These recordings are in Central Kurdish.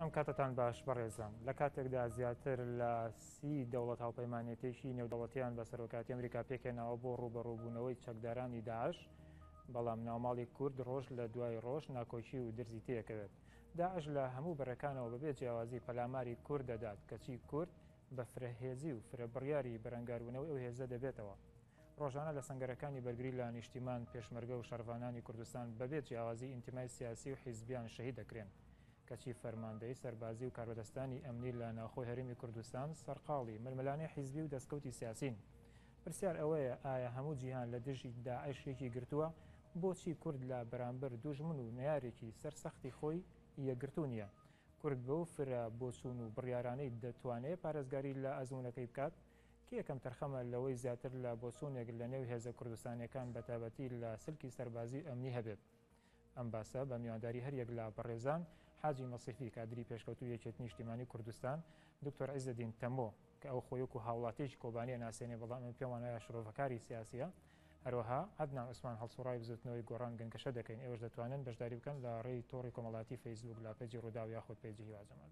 ئەم کاتتان باش بەڕێزان لە کاتێکدا زیاتر لە سی دەوڵەت هاوپەیمانەتێکی نێودەوڵەتیان بە سەرۆکاتی ئەمریکا پێکێناوە بۆ ڕوبەڕوبوونەوەی چەکدارانی داعش بەڵام ناوماڵی کورد ڕۆژ لە دوای ڕۆژ ناکۆکی و درزی تێکەوێت داعش لە هەموو بەرەکانەوە بەبێ جیاوازی پەلاماری کورد دەدات کەچی کورد بە فرەهێزی و فرە بڕیاری بەرەنگاربوونەوەی ئەو هێزە دەبێتەوە ڕۆژانە لە سەنگەرەکانی بەرگری لە نیشتیمان، پێشمەرگە و شەڕڤانانی کوردستان بەبێ جیاوازی ئینتیمای سیاسی و حیزبیان شەهید دەکرێن. کەچی فەرماندەی سەربازی و کاربەدەستانی ئەمنی لە ناوخۆی هەرێمی کوردستان سەرقاڵی ململانێ حیزبی و دەستکەوتی سیاسین. پرسیار ئەوەیە ئایا هەموو جیهان لە دژی داعش یەکی گرتووە، بۆچی کورد لە بەرامبەر دوژمن و نەیارێکی سەر سەختی خۆی یەکگرتوو نییە؟ کورد بەو فرە بۆچوون و بڕیارانەی دەتوانێ پارێزگاری لە ئەزموونەکەی بکات؟ کێ کەمتەرخەمە لەوەی زیاتر لە بۆچوونێک لەنێو هێزە کوردستانییەکان بەتایبەتی لە سلکی سەربازی و ئەمنی هەبێت؟ ئەم باسە بە میوانداری هەریەک لە بەڕێزان حاجی مەسیفی کادری پێشکەوتووی یەکێتی نیشتیمانی کوردستان، دکتۆر عیزەدین تەمۆ کە ئەو خۆی وەکو هاوڵاتییەکی کۆبانی ئەناسێنێ بەڵام ئێمە پێمان وایە شڕۆڤەکاری سیاسییە، هەروەها عەدنان عوسمان هەڵسوڕاوی بزوتنەوەی گۆڕان گەنگەشە دەکەین ئێوەش دەتوانن بەشداری بکەن لە ڕێی تۆڕی کۆمەڵاتی فەیسبووک لاپەیجی ڕووداو یاخود پەیجی هیوا جەمال.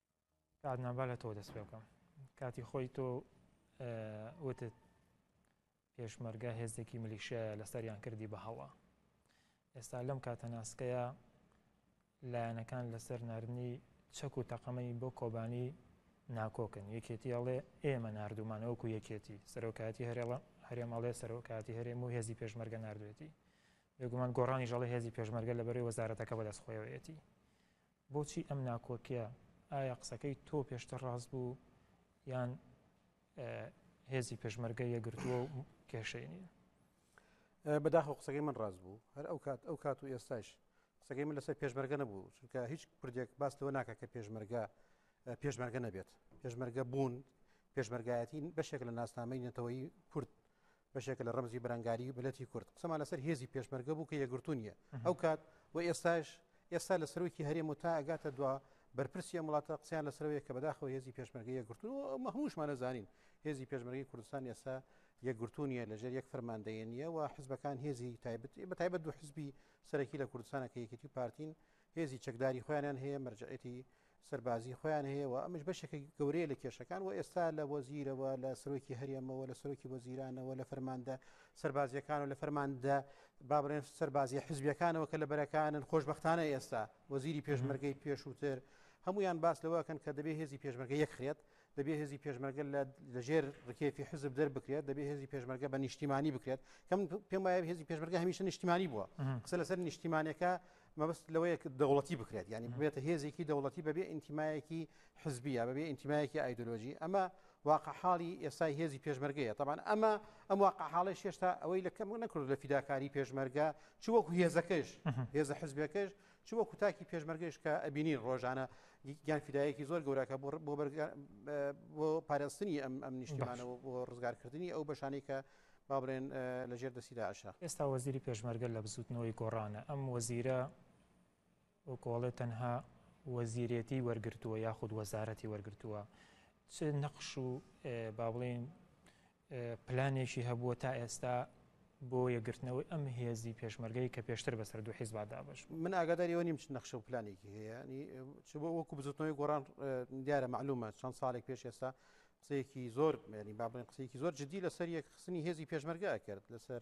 کاک نان با لە تۆ دەست پێ بکەم کاتی خۆی تۆ وتت پێشمەرگە هێزێکی ملیشایە لەسەریان کردی بە هەڵە ئێستا لەم کاتە ناسکەیە لایەنەکان لەسەر نردنی چەک و تەقەمەی بۆ کۆبانی ناکۆکن یەکێتی ئەڵێ ئێمە نردومانەوەکو یەکێتی سەرۆکایەتی هەرێڵە هەرێمەڵێ سەرۆکاتی هەرێم و هێزی پێشمەرگە نردوێتی بێگومان گۆڕانی ژەڵی هێزی پێشمەرگە لە بەرەی وەزارەتەکە بەدەست خۆیەوەیەتی بۆچی ئەم ناکۆکیە؟ ئایا قسەکەی تۆ پێشتر ڕاست بوو یان هێزی پێشمەرگە یەکگرتووە و کێشەی نییە؟ بەداخەوە قسەکەی من ڕاست بوو هەر ئەو کات ئەو کات و ئێستاش قسەکەی من لەسەر پێشمەرگە نەبوو چونکە هیچ کوردێک باس لەوە ناکە کە پێشمەرگە پێشمەرگە نەبێت پێشمەرگە بوون پێشمەرگایەتی بەشێک لە ناسنامەی نەتەوەی کورد بەشێکە لە ڕەمزی بەرەنگاریی میللەتی کورد. قسەمان لەسەر هێزی پێشمەرگە بوو کە یەکگرتوو نییە ئەو کات و ئێستاش، ئێستا لە سەرۆکی هەرێم و تا ئەگاتە دوا بەرپرسی ئەم وڵاتە قسەیان لەسەرەوەیە کە بەداخەوە هێزی پێشمەرگە یەکگرتوو نییە و ئەمە هەمووشمان ئەزانین هێزی پێشمەرگەی کوردستان ئێستا یەکگرتوو نییە لەژێر یەک فەرماندەیە نییە و حزبەکان هێزی تایبەت بە تایبەت دوو حزبی سەرەکی لە کوردستانە کە یەکێتی و پارتین هێزی چەکداری خۆیانیان هەیە مەرجەعێتی سەربازی خۆیان هەیە و ئەمش بەشێکی گەورەیە لە کێشەکان و ئێستا لە وەزیرەوە لە سەرۆکی هەرێمەوە لە سەرۆکی وەزیرانەوە لە فەرماندە سەربازیەکان و لە فەرماندە بابرێن سەربازی حزبیەکانەوە کە لە بەرەکانن خۆشببختانە ئێستا وەزیری پێشمەرگەی پێشووتر هەمویان باس لەوەکەن کە دەبێ هێزی پێشمەرگە یەکخرێت دەبێ هێزی پێشمەرگە لە ژێر ڕکێفی حزب دەربکرێت دەبێ هێزی پێشمەرگە بە نیشتیمانی بکرێت کەم پێم وایە هێزی پێشمەرگە هەمیشە نیشتیمانی بووە قسە لەسەر نیشتیمانەکە مەبست لەوەیە دەوڵەتی بکرێت ینی بێتە هێزێکی دەوڵەتی بەبێ ئینتیمایەکی حزبیە بەبێ ئینتیمایەکی ئایدۆلۆژی ئەمە واقع حاڵی ئێستای هێزی پێشمەرگەیە تاوان ئەمە ئەم واقع حاڵی شێشتا ئەوەی لە کەم نەکرد لە فیداکاری پێشمەرگە چوەکو هێزەکەش هێزە حزبەکەش چ وەکو تاکی پێشمەرگەش کە ئەبینین ڕۆژانە گیان فیدایەکی زۆر گەوراکە بۆ پارێستنی ئەم ئەم نیشتیمانەوە بۆ ڕزگارکردنی ئەو بەشانی کە با بڵێن لە ژێر دەستی داعشە ئێستا وەزیری پێشمەرگە لە بزوتنەوەی گۆڕانە ئەم وەزیرە وەکۆڵێ تەنها وەزیرێتی وەرگتووە یاخود وەزارەتی وەرگتووە چ نەخش و با بڵێن پلانێکی هەبووە تا ئێستا بۆ یەکگرتنەوەی ئەم هێزی پێشمەرگەی کە پێشتر بەسەر دوو حیزبا دابەش بوو؟ من ئاگاداری ئەوە نیم چ نەخشە و پلانێکی هەیە ینی چ بۆ وەکو بزوتنەوەی گۆڕان دیارە معلومە چەند ساڵێک پێش ئێستا قسەیەکی زۆر مێنی با بڵێن قسەیەکی زۆر جدی لەسەر یەکخستنی هێزی پێشمەرگە کرد لەسەر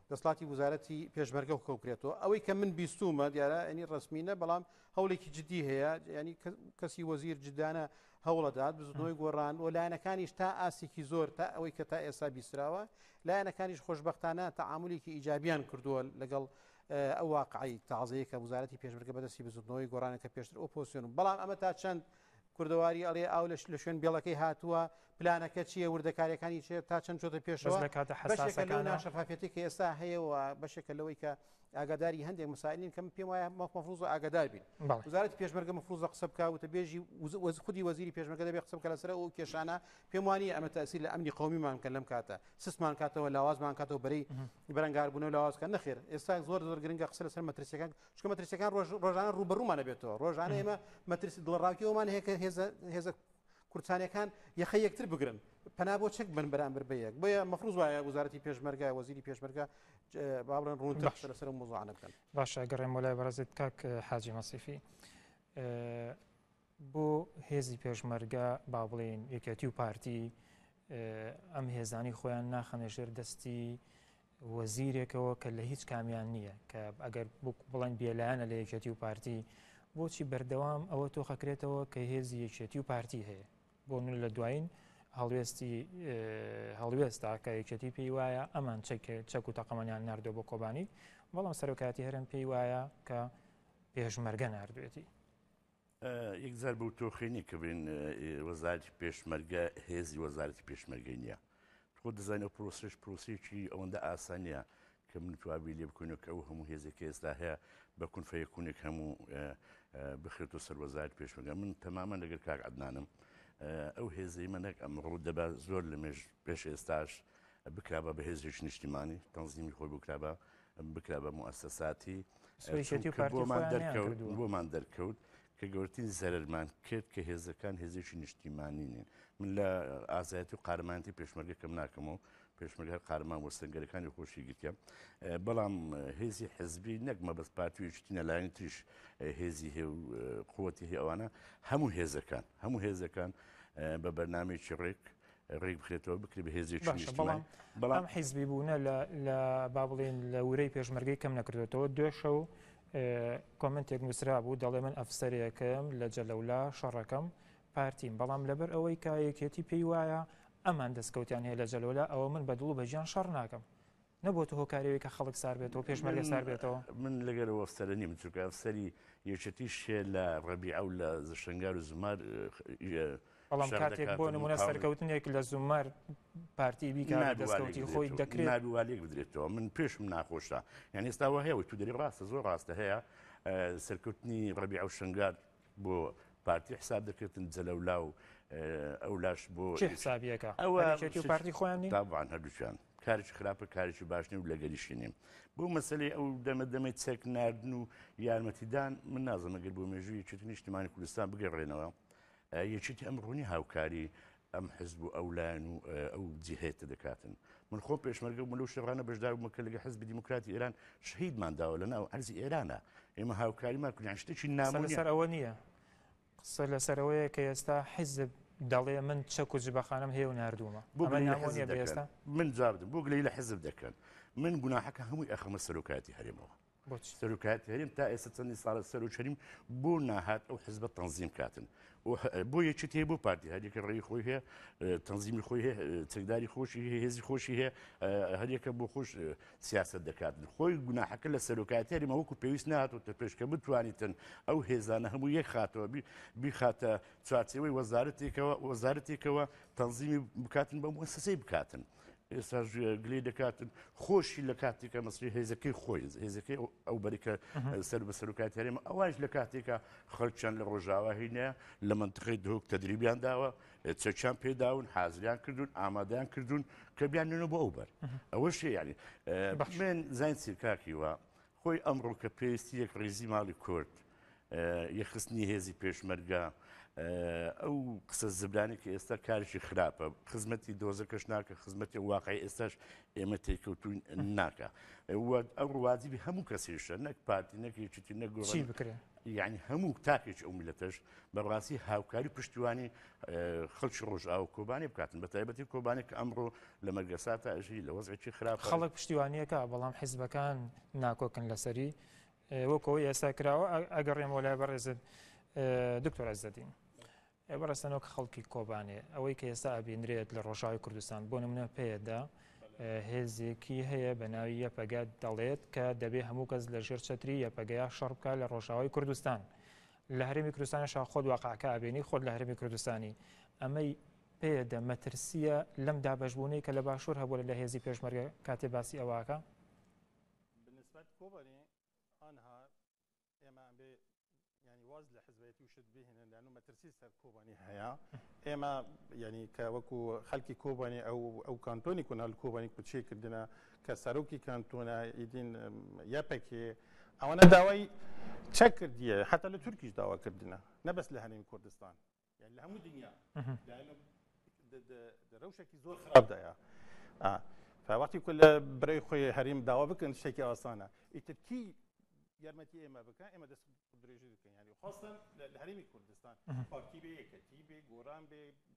دەسڵاتی وزارەتی پێشمەرگە و کەوکرێتەوە ئەوەی کە من بیستومە دیارە ئەنی ڕسمینە بەڵام هەوڵێکی جددی هەیە ینی کەسی وەزیر جدانە هەوڵەدات بزنەوەی گۆڕان و لایەنەکانیش تا ئاسێکی زۆر تا ئەوەی کە تا ئێستا بیسراوە لایەنەکانیش خۆشببختانە تەعاملێکی ئیجابیان کردووە لەگەڵ ئەو واقعی تازەیە کە وزارەتی پێشمەرگە بەدەستی بزنەوەی گۆڕانەکە پێشتر ئۆپۆسیۆن بەڵام ئەمە تا چەند کوردەواری ئەڵێ ئاو لە لە شوێن بێڵەکەی هاتووە، پلانەکە چییە، وردەکارییەکانی چییە، تا چەند چۆتە بەس پێشەوە، لە کاتە بەشێکە لەو حەساسەکانا ناشەفافیەتەی کە ئێستا هەیە و بەشێکە لەوەی کە ئاگاداری هەندێک مسائلین کە من پێم وایە مەف مەفرووزە ئاگادار بین. بەڵێ. وزارەتی پێشمەرگە مەفرووزە قسە بکا، وتەبێژی وز وەز خودی وەزیری پێشمەرگە دەبێ قسە بکا لەسەر ئەو کێشانە، پێم وا نییە ئەمە تەئسیر لە ئەمنی قەومیمان بکەن لەم کاتە، سستمان کاتەوە، لاوازمان کاتەوە، بەرەی بەرەنگاربوونەوە لاواز کات، نەخێر ئێستا زۆر زۆر گرنگە قسە لەسەر مەترسییەکان چکە مەترسیەکان ڕۆژانە ڕوبەڕوومانە بێتەوە ڕۆژانە ئێمە مەترس دڵڕاوکیەوەمان هەیە کە هێزە هێزە کورتانەکان یەخە یەکتر بگرن پنا بۆ چەک بن بەرامبەر بە یەک بۆیە مەفروز وایە وزارەتی پێشمەرگای وەزیری پێشمەرگا باڵێن ڕوون بەخش لەسەر مزانە بکەن باشە گەڕێم وەلای بەڕزت کاک حاجی مەسیفی بۆ هێزی پێشمەرگە با بڵێن یەکەتی و پارتی ئەم هێزانی خۆیان ناخەنە ژێر دەستی وەزیرێکەوە کە لە هیچ کامیان نییە کە ئەگەر بڵێن بێلایەنە لە یەکێتی و پارتی بۆچی بەردەوام ئەوە تۆخەکرێتەوە کە هێزی یەکێتی و پارتی هەیە بۆ من لە دوایین هەڵوێستی هەڵوێستا کە یەکێتی پێی وایە ئەمان چەک و تەقەمەنیان نردۆ بۆ کۆبانی بەڵام سەرۆکاتی هەرم پێی وایە کە پێشمەرگە نردوێتی یەک جار بەو تۆخەی نیە کە بێن وەزارتی پێشمەرگە هێزی وەزارتی پێشمەرگەی نییە خۆ دەزانین ئەو پرۆسش پرۆسیی ئەوەندە ئاسانە کە من توابی لێ بکەنەوە کە ئەو هەموو هێزێک ئێستا هەیە بە کونفەیەکوونێک هەموو بخرێت و سەروەزار پێشمەگە من تەمامە لەگەر کاک عدنانم ئەو هێزەی منەک ئەمڕوو دەبا زۆر لە مێژ پێش ئێستاش بکرابە بە هێزێک نیشتیمانی تەنزیمی خۆی بکرابە بکرا بە موئەسەساتی سوێکێتی و چونکە پارتی بۆمان خۆیان نەیان دەرکەوت کردووە. بۆمان دەرکەوت کە گەورەترین زەرەرمان کرد کە هێزەکان هێزێکی نیشتیمانی نین من لە ئازایەتی و قارەمانەتی پێشمەرگە کەم ناکەم و پێشمەرگە هەر قارەمان بۆ سەنگەرەکانی خۆشی گرتە اه، بەڵام اه، هێزی حزبی نەک مەبەست پارتی و یەکێتی نەلایەنی تریش اه، هێزی هێ و اه، قوتی هێ ئەوانە هەموو هێزەکان هەموو هێزەکان اه، بە بەرنامەیەکی ڕێک ڕێک بخرێتەوە بکرێت بە هێزێک باشە بەڵام بەڵام حیزبی بوونە لە با بڵێن لە ورەی پێشمەرگەی کەم نەکردێتەوە دوێشە و کۆمنتێک نووسرا بوو دەڵێ من ئەفسەرێکم لە جەلەولا شەڕەکەم پارتیم بەڵام لەبەر ئەوەی کایەکێتی پێی وایە ئەمان دەستکەوتیان هەیە لە جەلۆلا ئەوە من بە دڵ و بەجیان شەڕ ناکەم نەبووەتە هۆکاری ئەوەی کە خەڵک سار بێتەوە، پێشمەرگە سار بێتەوە؟ من لەگەر ئەو ئەفسەرە نیم، چونکە ئەفسەری یەکێتی شێ لە ڕەبیعە و لە شنگال و زومار بەڵام کاتێک بۆ نمونە سەرکەوتنێک لە زومەر پارتی بیکە دەستکەوتی خۆی دەکرێت ناوالێک بدرێتەوە من پێشم ناخۆشە یعنی ئێستاوە هەیە و تو دەری ڕاستە زۆر ڕاستە هەیە سەرکەوتنی ڕەبی ئەو شنگار بۆ پارتی حساب دەکردن جەلەولا و ئەو لاش بۆ حسابیەکە پارتی خۆیان تابان هەردووچیان کارش خراپە کارشی باشنی و لەگەریشی نیم بۆ مەسلەی ئەو دەمە دەمەی چەک نردن و یارمەتیدان من نازمەگەر بۆ مێژووی چێت نیشتمانی کوردستان بگەڕێنەوە یەکێتی ئەم ڕوونی هاوکاری ئەم حزب و ئەو لایەن و ئەو جیهەیە تدەکاتن. من خۆم پێشمەرگە بووم لەو شەڕانە بەشدار بووم کە لەگەڵ حزبی دیموکراتی ئێران شەهیدمان داوە لە ناو عەرزی ئێرانە. ئێمە هاوکاریمان کردیان شتێکی نامۆ نیە. قسە لەسەر ئەوە نییە. قسە لەسەر ئەوەیە کە ئێستا حزب دەڵێ من چەک و جبەخانەم هەیە و ناردوومە. بۆ گلەیی لە حزب دەکەن؟ من جواب بدەم. بۆ گلەیی لە حزب دەکەن؟ من گوناحەکە هەمووی ئەخەمە سەرۆکایەتی هەرێمەوە. بۆچی سەرۆکایەتی هەرێم تا ئێستا چەندین ساڵە سەرۆکەریم بۆ ناهات ئەو حزبە تەنزیم کاتن بۆ یەکێت هەیە بۆ پارتی هەریەکە ڕێی خۆی هەیە تەنزیمی خۆی هەیە چەکداری خۆشی هەیە هێزی خۆشی هەیە هەریەکە بۆ خۆش سیاست دەکاتن خۆی گوناحەکە لە سەرۆکایەتی هەرێمە وەکو پێویست نهاتوتە پێشکە بتوانیتن ئەو هێزانە هەموو یەک خاتەوە بیخاتە چوارچەوەی وەزارەتێکەوە وەزارەتێکەوە تەنزیمی بکاتن بە موسسەی بکاتن ئێستا گلەی دەکاتن خۆشی لە کاتێکە مەسری هێزەکەی خۆی هێزەکەی ئەو بەریکە سەر بە سەرکات هەرێمە ئەوش لە کاتێکە خەڵچەند لە ڕۆژاوا هینە لە منتقی دهۆک تەدریبیان داوە چەچان پێداون حازریان کردوون ئامادەیان کردوون کە بیان نوێنە بۆ ئەو بەر ئەوە شێ ینی بەخمێن زین سیرکاکی وە خۆی ئەمڕۆ کە پێویستی یەکڕیزی ماڵی کورد، یەکخستنی هێزی پێشمەرگە، ئەو قسە زبرانی کە ئێستا کارشی خراپە، خزمەتی دۆزەکەش ناکە، خزمەتی واقعی ئێستاش ئێمە تێکەوتوین ناکە. ئەو ڕوادیبی هەموو کەسیشە نەک پارتی نەکێکی نەگۆڕی بکرێن یعنی هەموو تاکێک ئەو ملەتەش بەڕاستی هاوکاری پشتیوانی خەڵکی ڕۆژئاو کۆبانی بکاتن بە تایبەتی کۆبانی کە ئەمڕۆ لە مەرگەسا تا ئەژی لە وەزێکی خراپ خەڵک پشتیوانیەکە بەڵام حیزبەکان ناکۆکن لەسەری وەکەوە ئێستا کراوە ئەگەڕێم وەلای بەڕێزت دکتۆر ئەزدەدین. بەڕستەنەوە کە خەڵکی کۆبانێ ئەوەی کە ئێستا ئەبینرێت لە ڕۆژاوی کوردستان بۆ نمونە پێدا هێزێکی هەیە بە ناوی یەپەگە دەڵێت کە دەبێ هەموو کەس لە ژێر چەتری یەپەگەیا شەڕ بکە لە ڕۆژاوی کوردستان. لە هەرێمی کوردستانیش ها خۆت واقعەکە ئەبینی خۆت لە هەرێمی کوردستانی ئەمەی پێدە مەترسیە لەم دابەشبوونەی کە لە باشوور هەبوو لە هێزی پێشمەرگە کاتێ باسی ئەوەکە بنسبت کۆبانی ئەها ئێمە ئەبێ ینی واز لە حزبەتی و شت بهێنن لەن و مەترسی سەر کۆبانی هەیە ئێمە ینی کە وەکو خەلکی کۆبانی ئەو ئەو کانتۆنی کۆنال کۆبانی کوچێکردە کە سەرۆکی کانتۆنە ئیدین یەپەکێ ئەوەنە داوای چەک کردیە حتا لە تورکیش داوا کردنە نەبەس لە هەرێمی کوردستان لە هەموو دنیا رەوشێکی زۆر خراپدایە فوەختی کو لە برای خۆی هەریم داوا بکەن شتێکی ئاسانە ئیترکی یارمەتی ئێمە بکە ئێمە دەست درێژی بکەین ینی خۆستن لە هەرمی کوردستان پارتی بێ یەکەتی بێ گۆران بێ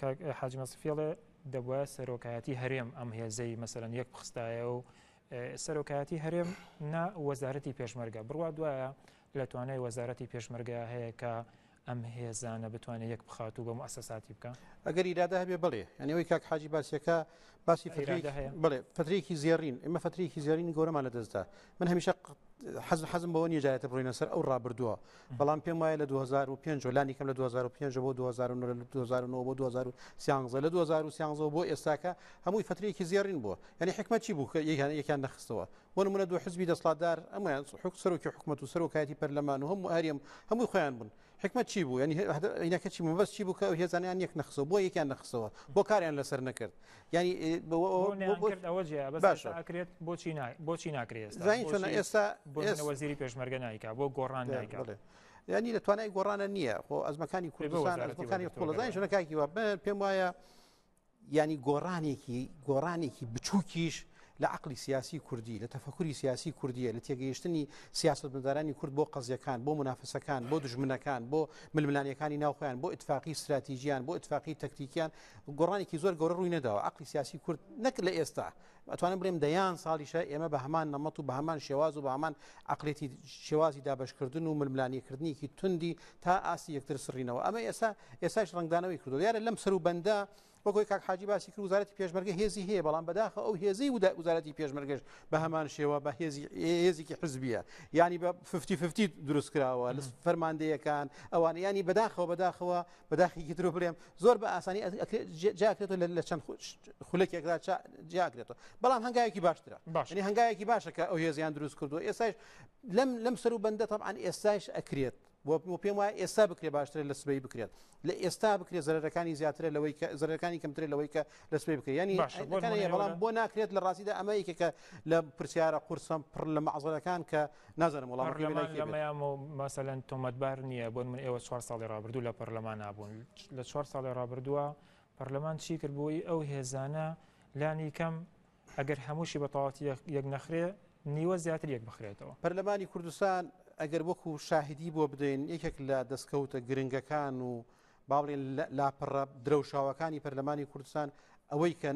کاک حاجی مەسفی ئەڵێ دەبوایە سەرۆکایەتی هەرێم ئەم هێزەی مەسەرەن یەک بخستایە و سەرۆکایەتی هەرێم نا وەزارەتی پێشمەرگە بڕوا دوایە لە توانای وەزارەتی پێشمەرگە هەیە کە ئەم هێزانە بتوانێت یەک بخات و بە مؤسساتی بکە ئەگەر ئیرادا هەبێ بڵێ ئەنیەوەی کاک حاجی باسیەکە باسی بڵێ فترێکی زێڕین ئمە فترێکی زێرین گەورەمان لە دەستدا من هەمیشە حەز حەزم بەوە نیە جارێتە بڕینە سەر ئەو ڕابردووە بەڵام پێم وایە لە 2005 لانی کەم لە 2005 بۆ 2009 بۆ 2013 لە 2013 بۆ ئێستاکە هەمووی فترێکی زیێڕین بووە یعنی حکمە چی بوو یەکیان یەکیان نەخستەوە بۆ نمونە دو حزبی دەسڵاتدار ئەمەیان حک سەرۆکی حکومەت و سەرۆکایەتی پەرلەمان و هەموو هەریم هەمووی خۆیان بوون حیکمەت چی بوو یانی عینەکە چی مەبەست چی بوو کە ئەو هێزانیان یەک نەخسەوە بۆ یەکیان نەخسەوە بۆ کاریان لەسەر نەکرد یانی ئەوە جێ باش ئەکرێت بۆچی بۆچی ناکرێت چۆن ئێستا وەزیری پێشمەرگە نایکا بۆ گۆڕان نایکا ینی لە توانای گۆڕانە نییە خۆ ئەزمەکانی کوردستان ئەزمەکانی قوڵەزای ژنەکاکی وە پێم وایە یانی گۆڕانێکی گۆڕانێکی بچووکیش لە عقلی سیاسی کوردی لە تەفکوری سیاسی کوردیە لە تێگەیشتنی سیاست مدارانی کورد بۆ قەزیەکان بۆ منافسەکان بۆ دژمنەکان بۆ ململانەکانی ناوخۆیان بۆ اتفاقی استراتیژیان بۆ اتفاقی تەکتیکیان گۆڕانێکی زۆر گەورە ڕووی نەداوە عقلی سیاسی کورد نەک لە ئێستا ئەتوانم بڵێم دەیان ساڵیشە ئێمە بە هەمان نەمەت و بە هەمان شێواز و بە هەمان عقلێتی شێوازی دابشکردن و ململانیکردنیکی توندی تا ئاسی یەکتر سڕینەوە ئەمە ئێسا ئێساش ڕنگدانەوەی کردو یارە لەم سەر و بەندە وەگوی کاک حاجی باسی کرد وزارەتی پێشمەرگە هێزی هەیە بەڵام بەداخە ئەو هێزی ودا وزارەتی پێشمەرگەش بە هەمان شێوە بە هێزی هێزیکی حزبیە ینی بە ففتی دروست کراوە لە فەرماندەیەکان ئەوان ینی بەداخەوە بەداخەوە بەداخیکی ترو بڵێم زۆر بە ئاسانی جاکرێتەوە لە چەند خولەکێکدا جاکرێتەوە بەڵام هەنگایەکی باشترە باشنی هەنگایەکی باشە کە ئەو هێزیان دروست کردو ئێستاش لەم لەم سەر و بەندە تەعاان ئێستاش ئەکرێت بۆ پێم وایە ئێستا بکرێ باشترە لە سبەی بکرێت لە ئێستا بکرێت زەرەکانی زیاترە لەوەی کە زەرەکانی کەمترێ لەوەی کە لە سبەی بکرێت ینی بەڵام بۆ ناکرێت لە ڕاستیدا ئەمە یکێکە لە پرسیارە قورسم پڕ لە مەعزەکان کە نازانم وەڵامەکەی بێ لایکی بێت. پەڕلەمان لەمەیامۆ مەسەلەن تۆمەتبار نییە بۆ نمونە ئێوە چوار ساڵی ڕابردوو لە پەڕلەمانا بوون لە چوار ساڵی ڕابردووە پەڕلەمان چی کرد بۆی ئەو هێزانە لانی کەم ئەگەر هەمووشی بە تەواتی یەک نەخرێ نیوە زیاتر یەک بخرێتەوە. پەرلەمانی کوردستان ئەگەر وەکو شاهدی بۆ بدەین یەکێک لە دەستکەوتە گرنگەکان و با بڵێن لاپەڕە درەوشاوەکانی پەرلەمانی کوردستان ئەوەی کە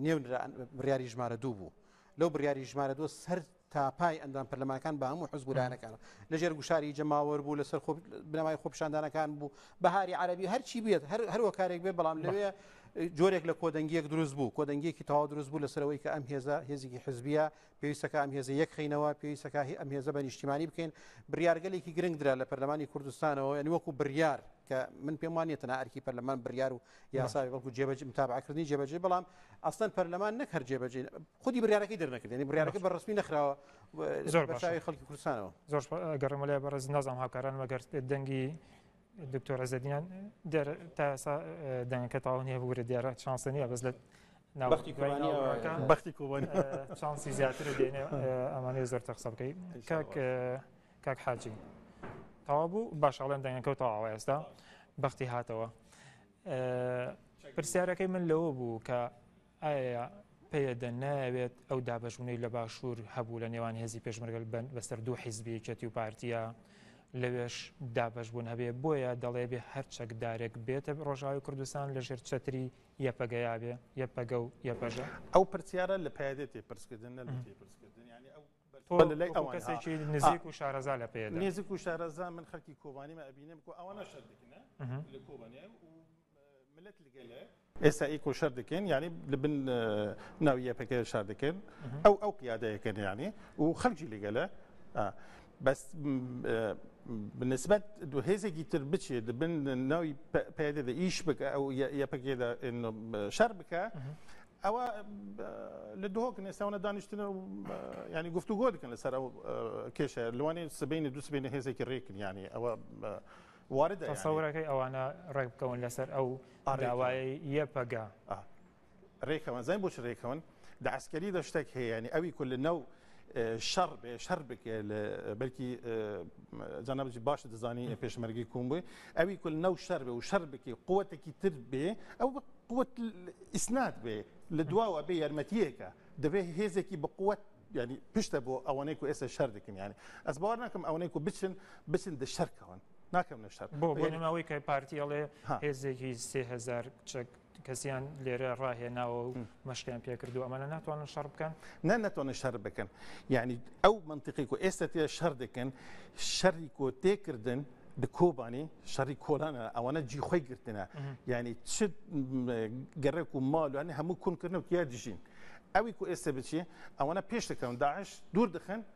نێونرا بڕیاری ژمارە دوو بوو لەو بڕیاری ژمارە دۆ سەر تاپای ئەندام پەرلەمانەکان بە هەموو حزب لایەنەکان لەژێر گوشاری جەماوەر بوو لەسەر خۆ بنەمای خۆپشاندانەکان بوو بەهاری عربی هەرچی بێت هەر هەروە کارێک بێ بەڵام لەوێ جۆرێک لە کۆدەنگیەک دروست بوو کۆدەنگیەکی تەوا دروست بوو لەسەرەوەی کە ئەم هێزە هێزیکی حزبیە پێویستەکە ئەم هێزە یەک خینەوە پێویستەکە ئەم هێزە بە نیشتیمانی بکەین بریارگەلێکی گرنگ درا لە پەرلەمانی کوردستانەوە یعنی وەکو بریار کە من پێم وانە تەنها ئەرکی پەرلەمان بڕیار و یاساوی بەڵکو جێبەجی متابعکردنی جێبەجێ بەڵام ئەسلەن پەرلەمان نەک هەر جێبەجێ خودی بڕارەکەی دەرنەکردنی بڕارەکە بە ڕسمی نەخراوە زۆر باشی خەڵکی کوردستانەوە زۆر گەڕمەلای بەڕز نازام هاکاران مەگەر دەنگی دکتۆر عزدیان دێر تا ئێسا دەنگەکە تاون هەیە بگورە دیارە چانسە نیە بەس لە بەختی بەختی کوبن چانسی زیاتر دێنێ ئەمانێ زۆر تەخسە بکەیت کاک کاک حاجی تەوا بوو باش ئەڵێن دەنگەکە تەواوە ئێستا بەختی هاتەوە پرسیارەکەی من لەوە بوو کە ئایا پێدە ناوێت ئەو دابشونەی لە باشوور هەبوو لە نێوان هێزی پێشمەرگەل بن بەسەر دوو حیزبی چەتی و پارتیە لەوێش دابش بوون هەبێ بۆیە دەڵێ بێ هەر چەکدارێک بێتە ڕۆژاوی کوردستان لە ژێر چەتری یەپەگەیاێ یەپەگە و یەپەژە ئەو پرسیارە لە پادێتی پرسکردن نە پرسکردن ینی ئەو تۆ لە لای ئەوان کەسێکی نزیک و شارەزا لە پێ نزیک و شارەزا من خەکی کۆبانیمە ئەبینم کو ئەوانە شەر دەکەن لە کۆبانێ و ملت لەگەلێ ئێستا ئی کۆشەر دەکەن یعنی لە بن ناوی یەپەکە شار دەکەن ئەو ئەو قیادەیەکەن یعنی و خەلکی لەگەلە بەس بنسبەت دو هێزێکی تر بچێت بن ناوی پێدەدە ئیش بکە ئەو یەپەکێدا شەر بکە ئەوە لە دهۆک نێساو نە دانیشتنە و یانی گفتو گۆ دکن لەسەر ئەو کێشە لەوانێ سبینە دو سبینە هێزێکی ڕێکن یانی ئەوە وارد تەسەورەکەی ئەوانە ڕێک بکەون لەسەر ئەو داوایە یەپەگە ڕێکەوەن زای بۆچ ڕێکەوەن دە عسکەری دەشتێک هەیە ینی ئەوی کول لە نەو شەڕ بێ شەر بکێ بەلکی جانەبجی باش دەزانی پێشمەرگی کوم بووی ئەوی کول نەو شەر بێ و شەر بکی قوتێکی تر بێ ئەو قوت ئیسنات بێ لە دواوە بێ یارمەتیەکە دەبێ هێزێکی بقوت ینی پشتە بۆ ئەوەنەی و ئێستا شەر دەکەن ینی ئەس باوار ناکەم ئەوەنەی و بچن بچن دە شەرکەون ناکەم نە شەر بۆ بۆنەوەی کە پارتیڵێ هێزێکی سهزار چەک کەسیان لێرە ڕاهێناوە و مەشقیان پێکردو ئەمانە ناتوانن شەڕ بکەن نە نەتوانن شەر بکەن یعنی ئەو منتیقی و ئێستا تێ شەر دەکەن شەری کۆ تێکردن کۆبانی شەڕی کۆلانە ئەوانە جیخۆی گرتنە یعنی چ گەڕێک و ماڵوانە هەموو کونکردن و یا دژین ئەوی کو ئێستا بچی ئەوانە پێش دەکەون داعش دوور دەخن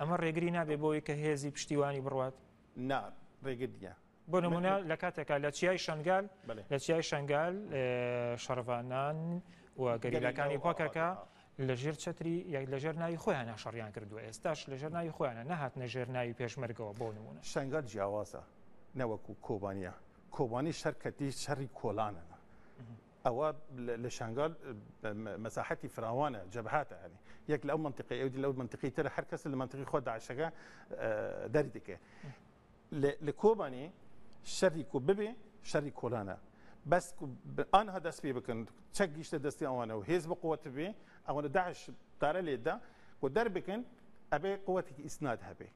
ئەمە ڕێگری نابێت بۆی کە هێزی پشتیوانی بڕوات؟ نا ڕێگر نیە. بۆ نمونە لە کاتێکا لە چیای شنگال لە چیای شنگال شەڕڤانان و گەریلاکانی پاکەکە لەژێر چتری یاک لەژێر ناوی خۆیان ناشەڕیان کردو ئێستاش لەژێر ناوی خۆیانە نەهات نەژێر ناوی پێشمەرگەوە بۆ نمونە شنگال جیاوازە نەوەکو کۆبانە کۆبانی شەرکەتی شەڕی کۆلانەنە ئەوە لە شانگال مەساحەتی فراوانە جەبهاتە هەنی یەک لەو منتیقی ئەو لەو منتیقی تر هەر کەس لە منتیقی خۆ داعشەکە دەری دەکە لە کۆبانی شەری کو ببێ شەری کۆلانە بەس ئەها دەست پێ بکەن چەک گیشتە دەستی ئەوانە و هێز بە قوت بێ ئەوەنە داعش دارە لێدا و دەربکەن ئەبێ قوتێکی ئیسناد هەبێ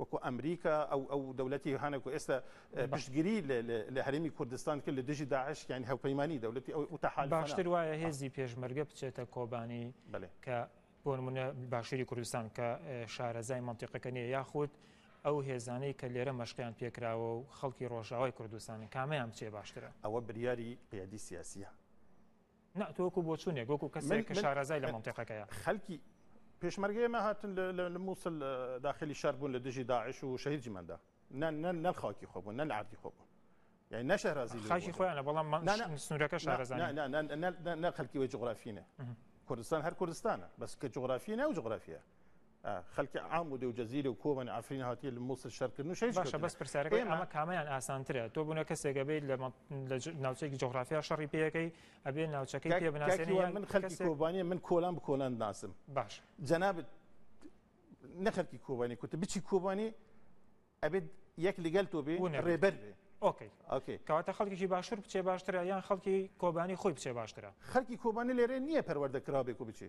وەکو ئەمریکا ئەو ئەو دەولەتی هەنە کە ئێستا پشتگیری لە لە لە هەرێمی کوردستان کرد لە دژی داعش یانی هاوپەیمانی دەولەتی ئەو ئەو تەحالفانە. باشتر وایە هێزی پێشمەرگە بچێتە کۆبانی بەلێ. کە بۆ نمونە باشوری کوردستان کە شارەزای مەنتیقەکە نیە یاخود ئەو هێزانەی کە لێرە مەشقیان پێکراوە و خەڵکی ڕۆژئاوای کوردستانن کامەیان بچێ باشترە؟ ئەوە بریاری قیادی سیاسیە. نا تۆ وەکو بۆچوونێک وەکو کەسێک کە شارەزای لە مەنتیقەکەیە خەلکی پێشمەرگەی ئێمە هاتن لە مووسل داخلی شار بوون لە دژی داعش و شەهید جیمەندا نەل خاکی خۆ بوون نەل عادی خۆ بوون یعنی نەشەرازی خاکی خۆیانە بەڵام من سنوورەکە شارەزان نە خەلکی وەی جغرافینە کوردستان هەر کوردستانە بەس کە جغرافی ناو جغرافە خەلکی عام و دەو جزیرە و کۆبانی عەفرین هاتیە لە موسل شەرکردن و شەریش باشە بەس پرسیارەکە ئێمە کامیان ئاسانترە تۆ بوونە کەسێکە بیت لە ناوچێکی جغرافیا شەڕی پێەکەی ئەبێ ناوچەکەی پێ بناسێنی من خەلکی کۆبانی من کۆلان بکۆلان ناسم باش جەنابت نەخەلکی کۆبانی کوتە بچی کۆبانی ئەبێت یەک لەگەل تۆ بێ ڕێبەر بێ ئۆکەی ئۆکەی کەواتە خەڵکیی باشتر بچێ باشترە یان خەڵکی کۆبانی خۆی بچێ باشترە خەڵکی کۆبانی لێرێ نییە پەروەردە کرابێک و بچێ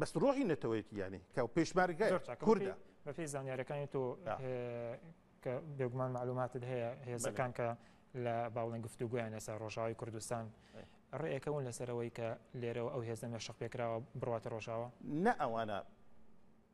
بەس ڕۆحی نەتەوەیەتی یانی کە پێشمارگای کوردە بەپی زانیارەکانی تۆ کە بێگومان معلوماتت هەیە هێزەکان کە لە باوڵنگ گفتوگویان لەسەر ڕۆژاوی کوردستان ڕێەکەون لەسەرەوەی کە لێرەوە ئەو هێزە مەشق پێکراوە بڕاتە ڕۆژاوە نە ئەوانە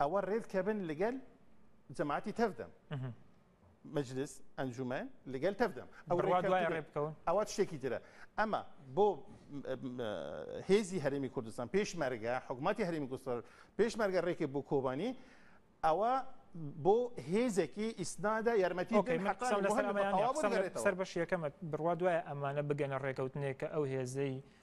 ئەوە رێدکە بن لەگەل جەماعەتی تەڤدەم مجلس ئەنجومەن لەگەل تەڤدەم ئەوە شتێکی ترە ئەمە بۆ هێزی هەرمی کوردستان پێشمەرگە حکوومەتی هەرمی گوستەر پێشمەرگە رێکی بۆ کۆبانی ئەوە بۆ هێزێکی ئیسنادا یارمەتی سەر بەشیەکەمە بڕوا دوایە ئەمانە بگەنە ڕێکەوتنێک کە ئەو هێزەی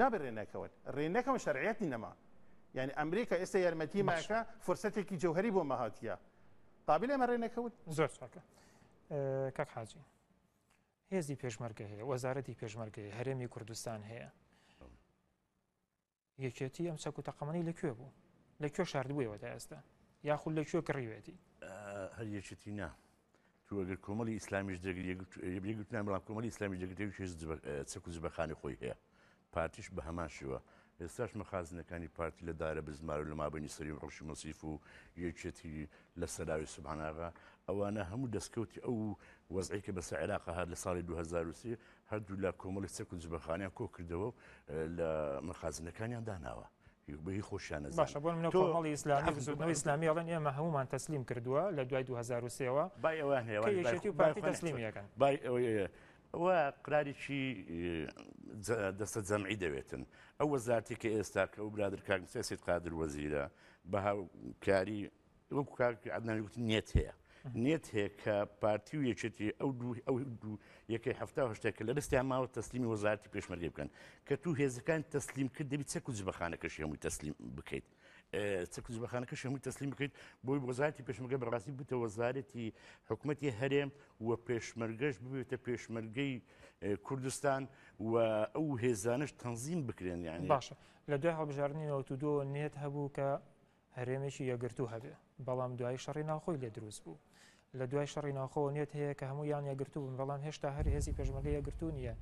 نابێت رێ نەکەون رێ نەکەون شەرعەتی نەما یعنی ئەمریکا ئێستا یارمەتی ماکە فرسەتێکی جوهری بۆ مەهاتە قابل ئەمە رێ نەکەوت زۆر چاکە کاک حاجی هێزی پێشمەرگە هەیە وەزارەتی پێشمەرگەی هەرێمی کوردستان هەیە یەکێتی ئەم چەک و تەقەمەنی لە کوێ بوو لە کوێ شاردبوویەوە تا ئێستا یاخود لە کوێ کڕیوێتی هەر یەکێتی نا توگەر کۆمەڵی ئیسلامیش دەگرێتگوتنان بەڵام کۆمەلی ئسلامی دەگرێت چەک و زبەخانی خۆی هەیە پارتیش بە هەمان شێوە ئێستاش مەخازنەکانی پارتی لە دارە بزمار و لە مابنی سەری و ڕشی مەسیف و یەکێتی لە سەراوی سوباناغا ئەوانە هەموو دەستکەوتی ئەو وەزعی کە بەسە عێراق هاات لە ساڵی 2023 هەردوولا کۆمەڵی چەک و جبەخانەیان کۆ کردەوە و لە مەخازنەکانیان داناوە. بەهی خۆشیان باشە بۆ منە کۆمەڵی ئیسلامی بزودنەوە ئسلامی ئەڵەن ئێمە هەمومان تەسلیم کردووە لە دوای 2023ەوە بای ئەویان هەیەشێتی و پارتی تەسلیمیەکەن بای ئەوەیە و قراریی دەستە جەمعی دەوێتن ئەو وەزارتی کە ئێستا کە ئەو برادر کاکمسیاست قادر وەزیرە بە هاوکاری وەکو کاک عەدنان گوت نێت هەیە نێت هەیە کە پارتی و یەکێتی ئەو دوو ئەو دوو یەکەی هەفتا هشتا کە لە دەستیان ماوە تەسلیمی وەزارتی پێشمەرگەی بکەن کە تو هێزەکان تەسلیم کرد دەبی چەک و جبەخانەکەشی هەمووی تەسلیم بکەیت چەک و جبەخانەکەش هەمووی تەسلیم بکەیت بۆی وەزارتی پێشمەگە بەڕاستی بتە وەزارەتی حکوومەتی هەرێم و پێشمەرگەش ببێتە پێشمەرگەی کوردستان و ئەو هێزانش تەنزیم بکرێن یعنی باشە لە دوای هەڵبژاردننی نەوتودۆ نێت هەبوو کە هەرێمێکی یەکگرتوو هەبێ بەڵام دوای شەڕی ناوخۆی لێ دروست بوو لە دوای شەڕی ناوخۆوە نێت هەیە کە هەموو یان یەکگرتوو بن بەڵام هێشتا هەر هێزی پێشمەگە یەکگرتوو نییە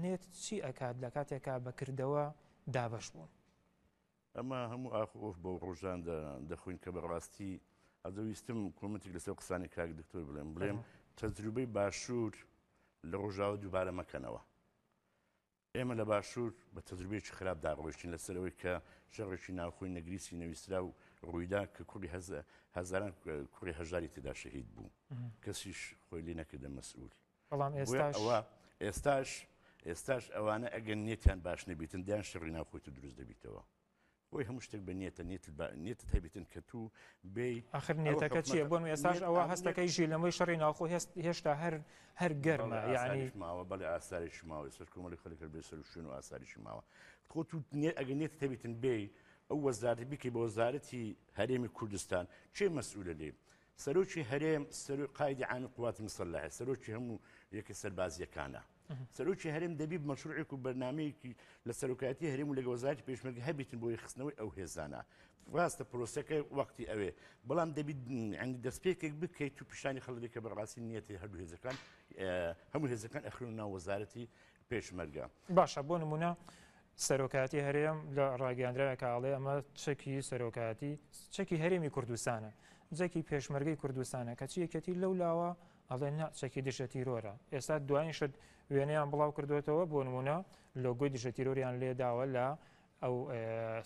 نێت چی ئەکات لە کاتێکا بەکردەوە دابش بوون ئەمە هەموو ئاخ ئۆف بۆ ڕۆژان دەخۆین کە بەڕاستی ئەدەویستم کۆمەتێک لەسەر قسانی کاک دکتۆر بڵێم بڵێم تەجروبەی باشوور لە ڕۆژاوە دووبارە مەکەنەوە ئێمە لە باشوور بە تەجروبەیەکی خراپ دا ڕۆیشتین لە سەر ئەوەی کە شەڕێکی ناوخۆی نەگریسی نەویستراو ڕوویدا کە کوڕی هەزاران کوڕی هەژاری تێدا شەهید بوو کەسیش خۆی لێ نەکردە مەسئول بەڵام ئێستاەوە ئێستاش ئێستاش ئەوانە ئەگەن نێتیان باش نەبیتن دیان شەڕی ناوخۆی تو دروست دەبیتەوە بۆی هەموو شتێک بە نیەتە نیەتت بە نیەتت هەبێتن کە تو بێی ئاخر ئەو نیەتەکە حکومەتە چییە بۆن ئێستاش نیەت ئەوە ئەو نیەت هەستەکەی ژیر لەمەی شەڕی ناوخۆ هێست هێشتا هەر هەر گەرمە بەڵێ یانی ئاساریش ماوە بەڵێ ئاساریش ماوە ئێستاش کۆمەڵی خەڵک هەر بێ سەروشوێن و ئاساریشی ماوە خۆ تو نیە ئەگەر نیەتت هەبێتن بێی ئەو وەزارەتە بیکەی بە وەزارەتی هەرێمی کوردستان کێ مەسئولە لێ سەرۆکی هەرێم سەرۆ قایدی عامی قوات مسلحە سەرۆکی هەموو یەکە سەربازیەکانە سەرۆکی هەرێم دەبی مەشروعێک و بەرنمەیەکی لە سەرۆکاتی هەرێم و لەگە وەزارتی پێشمەرگ هەبیتن بۆی خستنەوەی ئەو هێزانە ڕاستە پرۆسەکە وەختی ئەوێ بەڵام دەبیت ئەنی دەستپێکێک بکەیت و پیشانی خەڵکی کە بەڕاستی نیەتی هەردوو هێزەکان هەموو هێزەکان ئەخرون ناو وەزارەتی پێشمەرگە باشە بۆ نمونە سەرۆکاتی هەرێم لە ڕاگەاندراوێکاڵێ ئەمە چەکی سەرۆکاتی چەکی هەرێمی کوردستانە جەکی پێشمەرگی کوردستانە کەچی یەکەتی لەو لاوە ئەڵێن نا چەکی دژە تیرۆرە، ئێستا دوایین شت وێنەیان بڵاو کردۆتەوە بۆ نمونە لۆگۆی دژە تیرۆریان لێ داوە لە ئەو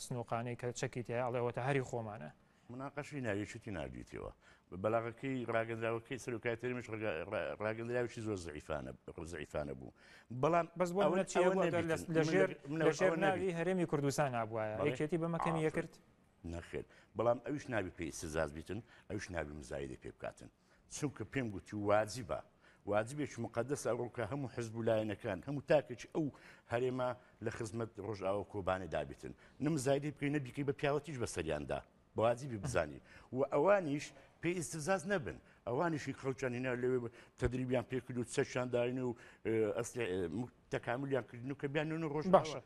سنوقانەی کە چەکی تێ ئەڵێ ئەوەتە هەری خۆمانە. مناقەشەی ناوێکیتی ناردویتەوە بە بەلاغەکەی ڕاگەندراوەکەی سەرۆکای تەرمیش ڕاگەندراوێکی زۆر زعیفانە زعیفانە بوو بەڵام بەس بۆ ئەوە چی لەژێر لەژێر ناوی هەرێمی کوردستان نبووایە یەکێتی بەمەکەمی یەکرد نەخێت بەڵام ئەوش نابی پێی سزاز بیتن ئەوش نابی مزایدە پێ بکاتن چونکە پێم گوتی واجبە واجبێکی مقدس ئەوڕۆ کە هەموو حزب و لایەنەکان هەموو تاکێکی ئەو هەرێمە لە خزمەت ڕۆژاوە کۆبانێ دابێتن نمزایدی بکەی نەبیکەی بە پیاوەتیش بە سەریاندا بەواجیبی بزانی و ئەوانیش پێی ئیسزاز نەبن ئەوانیشی خەڵچانینا لەوێ تدریبیان پێکرد و چەشان داین و تەکاملیان کردن و کە بیانون ڕۆژ باشە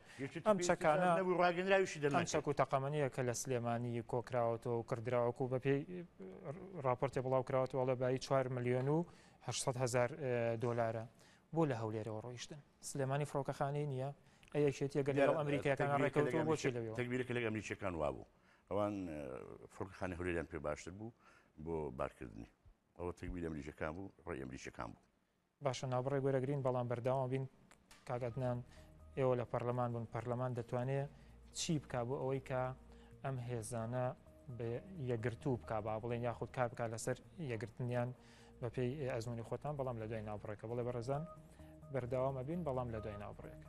ئەم چەکانە ڕاگەنراویشی دەم چەک و تەقەمەنیە کە لە سلێمانی کۆکراوەتەوە و کردراوەکو و بەپی راپۆرتی بڵاو کراوەتەوەڵە بای 4 میلیۆن و 600 هزار دلارە بۆ لە هەولێرەوە ڕۆیشتن سلێمانی فڕۆکەخانەی نییە ئەیەکێتیە گەل ئەمریکایەکان ڕێکەوتەوە بۆچی لەوێ تەگبیرێک لە ئەمریکیەکان وابوو ئەوان فڕکخانی هەولێریان پێ باشتر بوو بۆ بارکردنی ئەوە تەگبیر ئەمریکەکان بوو ڕێ ئەمریکەکان بوو باشە ناوبڕێ گۆرەگرین بەڵام بەرداوام بین کاک عدنان ئێوە لە پەرلەمان بوون پەرلەمان دەتوانێ چی بک بۆ ئەوەی کە ئەم هێزانە یەگرتوو بک با بڵێن یاخود کار بک لەسەر یەگرتنیان بە پێی ئەزمونی خۆتان بەڵام لە دوای ناوبڕێکە بڵێ بەڕێزان بەرداوامە بین بەڵام لە دوای ناوبڕێکە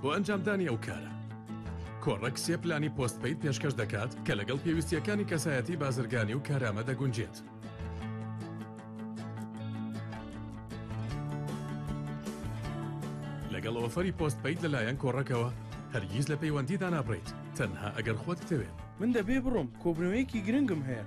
بۆ ئەنجامدانی ئەو کارە. کۆڕەک سێ پلانی پۆست پەید پێشکەش دەکات کە لەگەڵ پێویستیەکانی کەسایەتی بازرگانی و کارامە دەگونجێت. لەگەڵ ئۆفەری پۆست پەید لەلایەن کۆڕەکەوە هەرگیز لە پەیوەندی دانابڕیت تەنها ئەگەر خۆت بتەوێت. من دەبێ بڕۆم کۆبنەوەیەکی گرنگم هەیە.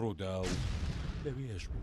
ڕووداو لەوێش بوو.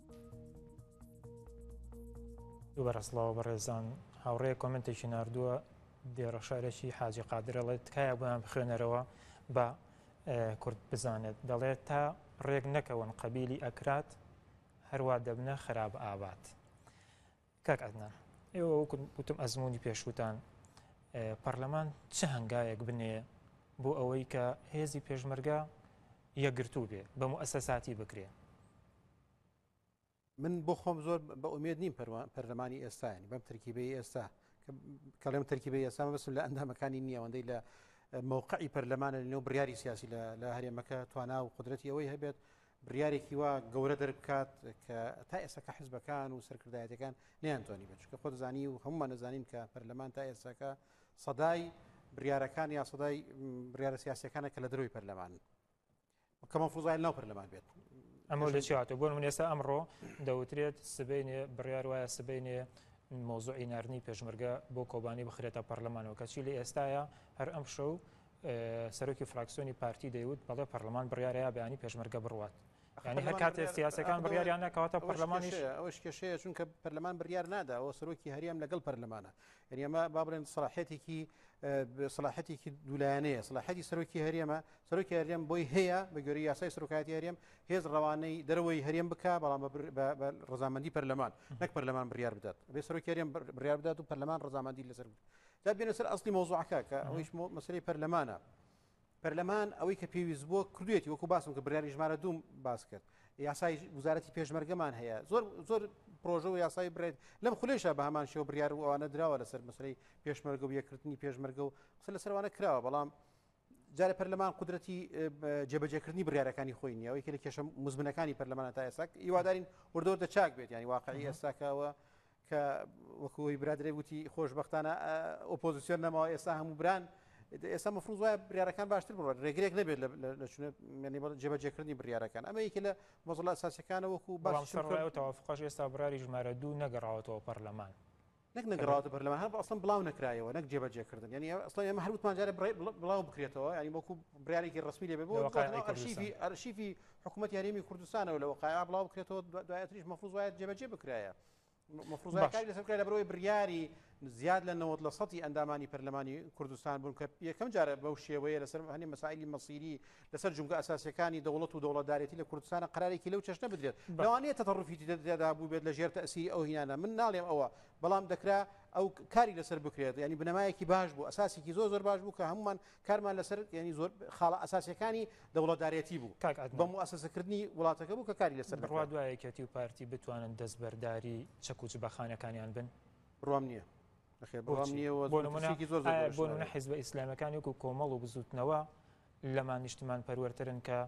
دووبارە سڵاو بەڕێزان هاوڕێ کۆمنتێکی نردووە دێڕە شارێکی حاجی قادرەڵێ تکایە بۆیان بخوێنەرەوە بە کورد بزانێت دەڵێت تا ڕێک نەکەون قەبیلی ئەکرات هەروە دەبنە خراپ ئابات. کاک عەدنان ئێوە وەکو وتم ئەزموونی پێشووتان پەرلەمان چ هەنگاوێک بنێ بۆ ئەوەی کە هێزی پێشمەرگە یەکگرتوو بێ بە موئەسەساتی بکرێ من بۆ خۆم زۆر بە ئومێد نیم پەرلەمانی ئێستانی بەم ترکیبی ئێستا کەڵێم ترکیبی ئێستا بەسم لە ئەندامەکانی نییەوەندەی لە مووقعی پەرلەمانە لەو بڕیاری سیاسی لە هەرێمەکە توانا و قدرەتی ئەوەی هەبێت بڕیارێکی وا گەورە دەربکات کە تا ئێساکە حزبەکان و سەرکردایەتەکان نیانتوانی بێت چکە خۆدەزانی و هەمومان نەزانین کە پەرلەمان تا ئێساکە سەدای بریارەکان یا سەدای بریارە سیاسەکانە کە لە دەروی پەرلەمان کە مەفوزای ناو پەرلەمان بێت ئەمە لە چاتە بۆن من ئێستا ئەمڕۆ دەوترێت سبینێ بڕیار وایە سبینێ مۆزوعی نردنی پێشمەرگە بۆ کۆبانی بخرێتە پەرلەمانەوە کەچی لە ئێستاە هەر ئەم شەو سەرۆکی فراکسیۆنی پارتی دەیوت بەڵێ پەرلەمان بڕیارەیە بەیانی پێشمەرگە بڕوات ینی هەر کاتێ سیاسەکان بڕیاریان ناکەواتە پەرلەمانیش ئەوش کێشەیە چونکە پەرلەمان بڕیار نادا و سەرۆکی هەریان لەگەڵ پەرلەمانە یعنیمە با بڵێن سلاحەتێکی سلاحەتێکی دوولایەنەیە سلاحەتی سەرۆکی هەرێمە سەرۆکی هەرێم بۆی هەیە بە گوێری یاسای سەرۆکاتی هەرێم هێز ڕەوانەی دەرەوەی هەرێم بک بەڵام ڕزامەندی پەرلەمان نەک پەرلەمان بڕیار بدات بێ سەرۆکی هەرێم بڕیار بدات و پەرلەمان ڕزامەندی لەسەر جا بێنە سەر ئەسلی مەوزوعەکە کە ئەوەیش مەسلەی پەرلەمانە پەرلەمان ئەوەی کە پێویست بووە کردێتی وەکو باسم کە بریاری ژمارە دوم باس کرد یاسای وزارەتی پێشمەرگەمان هەیە زۆر زۆر پرۆژە و یاسای برێت لەم خولێشە بە هەمان شێوە بریار و ئەوانە دراوە لەسەر مەسلەی پێشمەرگە و یەکردنی پێشمەرگە و قسە لە سەروانە کراوە بەڵام جارە پەرلەمان قدرەتی جێبەجێکردنی بریارەکانی خۆی نیەوەی کە لە کێشە مزمنەکانی پەرلەمانە تا ئێساک هیوادارین وردۆر دەچاک بێت ینی واقعی ئێستاکەوە کە وەکو ئەوی برا درەی وتی خۆشبەختانە ئۆپۆزیسیۆن نەماوە ئێستا هەموو بران ئێستا مەفروز وایە بریارەکان باشتر بڕۆن ڕێگرێک نەبێت لە چونێنی جێبەجێکردنی بریارەکان ئەمە یەکە لە مەزڵە ساسەکانە وەکو باشڕایەوەتەوافقاش ئێستا براری ژمارە دوو نەگەڕاوەتەوە پەرلەمان نەک نەگەڕاوە پەرلەمان هەر ئەسڵم بڵاو نکرایەوە نەک جێبەجێکردن ینی ئەسڵ ئێمە هەروتمانجارە بڵاو بکرێتەوە ینی وەکو بریارێکی ڕسمی لێ بۆ ئەرشیفی ئەرشیفی حکوومەت یاریمی کوردستانەوە لەوە قایا بڵاو بکرێتەوە دوایتریش مەفروز وایە جێبەجێ بکرایە مفروزای کاری لەسەر بکرێت لەبەرەوەی بڕیاری زیاد لە نەوەت لە سەتی ئەندامانی پەرلەمانی کوردستان بوون کە یەکەم جارە بەو شێوەیە لەسەر هەنی مەسایلی مەسیری لەسەر جونگە ئەساسەکانی دەوڵەت و دەوڵەتدارێتی لە کوردستانە قرارێکی لەو چەشنە بدرێت لەوانەیە تەڕفیتی دەدا بوو بێت لە ژێر تەسیری ئەو هینانە من ناڵێم ئەوە بەڵام دەکرا ئەو کاری لەسەر بکرێت ینی بنەمایەکی باش بوو ئەساسێکی زۆر زۆر باش بوو کە هەمومان کارمان لەسەر یانی زۆر خاڵە ئەساسیەکانی دەوڵەتدارێتی بوو کاک عدنان بە موئەسەسەکردنی وڵاتەکە بوو کە کاری لەسەر بڕوا دوای یەکێتی و پارتی بتوانن دەستبەرداری چەک و جبەخانەکانیان بن بڕوام نییە نەخێر بڕوام نییە و بۆ نمونە مترسێکی زۆر زۆر ئایا بۆ نمونە گەورەشە. حیزبە ئیسلامیەکان وەکو کۆمەڵ و بزوتنەوە لەمان نیشتمان پەروەرترن کە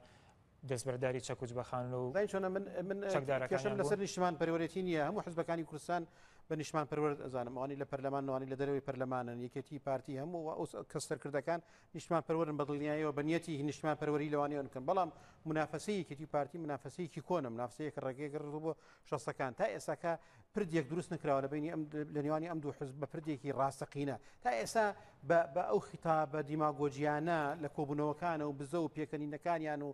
دەستبەرداری چەک و جبەخانە و زانی چۆنە من من چەکدارەکانیان کێشەم لەسەر بوون. نیشتمان پەروەرێتی نییە هەموو حزبەکانی کوردستان بە نیشتمان پەروەر ئەزانم ئەوانی لە پەرلەمان ئەوانی لە دەرەوەی پەرلەمانن یەکێتی پارتی هەموو و ئەو کەس سەرکردەکان نیشتمان پەروەرن بە دڵنیایەوە بە نیەتی هی نیشتمان پەروەری لەوانەیە بکەن بەڵام منافەسەی یەکێتی و پارتی منافەسەیەکی کۆنە منافەسەیەک ڕێگەیەک ڕبووە شەستەکان تا ئێستاکە پردێک دروست نکراوە لە بینی لە نێوانی ئەم دوو حزب بە پردێکی ڕاستەقینە تا ئێستا بە ئەو خیتابە دیماگۆجییانە لە کۆبوونەوەکانە و بزە و پێکەنینەکانیان و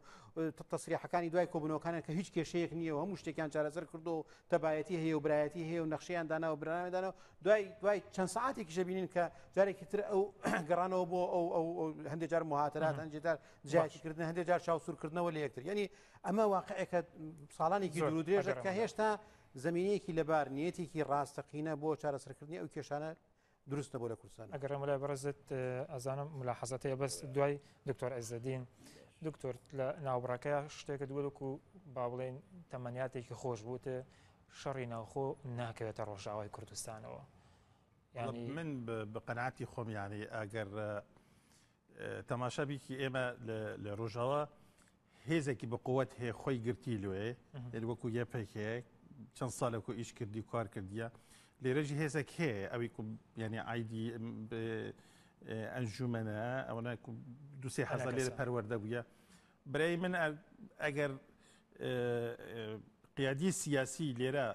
تەسریحەکانی دوای کۆبوونەوەکانە کە هیچ کێشەیەک نییە و هەموو شتێکیان چارەسەر کردو و تەبایەتی هەیە و برایەتی هەیە و نەخشیان دانا و برانامەدانەوە دوای دوای چەند ساعتێکی شەبینین کە جارێکی تر ئەو گەڕانەوە بۆ ئەو ئەو هەندێک جار مهاترات هەندێکدار جیاکردن هەندێک جار چاوسورکردنەوە لە یەکتر یعنی ئەمە واقعەکە ساڵانێکی دوور درێژە کە هێشتا زەمینەیەکی لەبار نیەتێکی ڕاستەقینە بۆ چارەسەرکردنی ئەو کێشانە دروست نەبوو لە کوردستان ئەگەر ڕێمەلای بەڕزت ئەزانم ملا حەزەتەیە بەس دوای دکتۆر ئەزدین دکتۆر لە ناوبڕەکە شتێکە دووەکو با بڵێن تەمەنیاتێکی خۆش بووتە شەڕی ناوخۆ ناکەوێتە ڕۆژاوای کوردستانەوە من بە قەنعاتی خۆمیانی ئەگەر تەماشا بیکی ئێمە لە ڕۆژاوا هێزێکی بەقوت هەیە خۆی گرتی لێ یعنی وەکو یە پێکەیە چەند ساڵێکو ئیش کردی کار کردیە لێرەژی هێزێک هەیە ئەوی ینی ئایدی ئەنجومەنە ئەوەنە دوسێ حەزە لێرە پەروەەردە بووە برای من ئەگەر قیادی سیاسی لێرە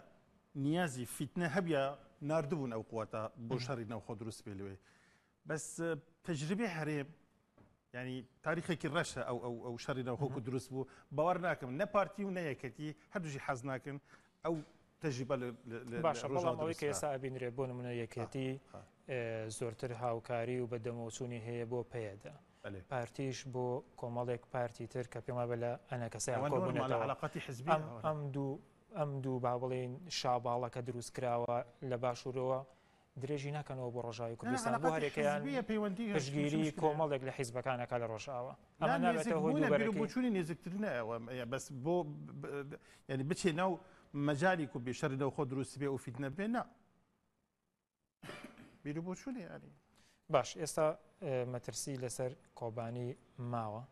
نیازی فیتنە هەبە نردبوون ئەو قوتە بۆ شەڕی ناوخۆ دروست پێ لێ بەس تەجربەی هەرێم یانی تاریخێکی ڕەشە ئەو ئەو ئەو شەڕی ناوخۆک و دروست بوو باوەڕ ناکەم نە پارتی و نە یەکەتی هەردووشی حەز ناکەن ئەو تەجربە لە- لە- لە- باشە لە بەڵام ڕۆژاوا ئەوەی کە دروست ئێستا ئەبینرێت بۆ نمونە کرا. یەکێتی ها، ئێ، زۆرتر هاوکاری و بەدەمەوەچوونی هەیە بۆ پەیەدە بەلێ. پارتیش بۆ کۆمەڵێک پارتی تر کە پێم وابێ لە ئەنەکەسەیان ئەوە نۆرمالە کۆبوونەتەوە عەلاقەتی حزبی ئەم ئەوە. ئەم دوو ئەم دوو با بڵێین شاباڵەکە دروست کراوە لە باشوورەوە درێژی ناکەنەوە بۆ ڕۆژاوای کوردستان بۆ هەرێکەیان پشتگیری کۆمەڵێک لە حیزبەکان ئەکات لە ڕۆژاوا ئەمە نابێتە هۆی دووبەرەکی بۆ بۆچوونی نێزیکترینە ئەوە بەس بۆ یعنی بچێ ناو مەجالی کو بێ شەڕی نەوخۆ دروست بێ و فیتنە بێ نا بیر و بۆچوونی یاری باش ئێستا مەترسی لەسەر کۆبانی ماوە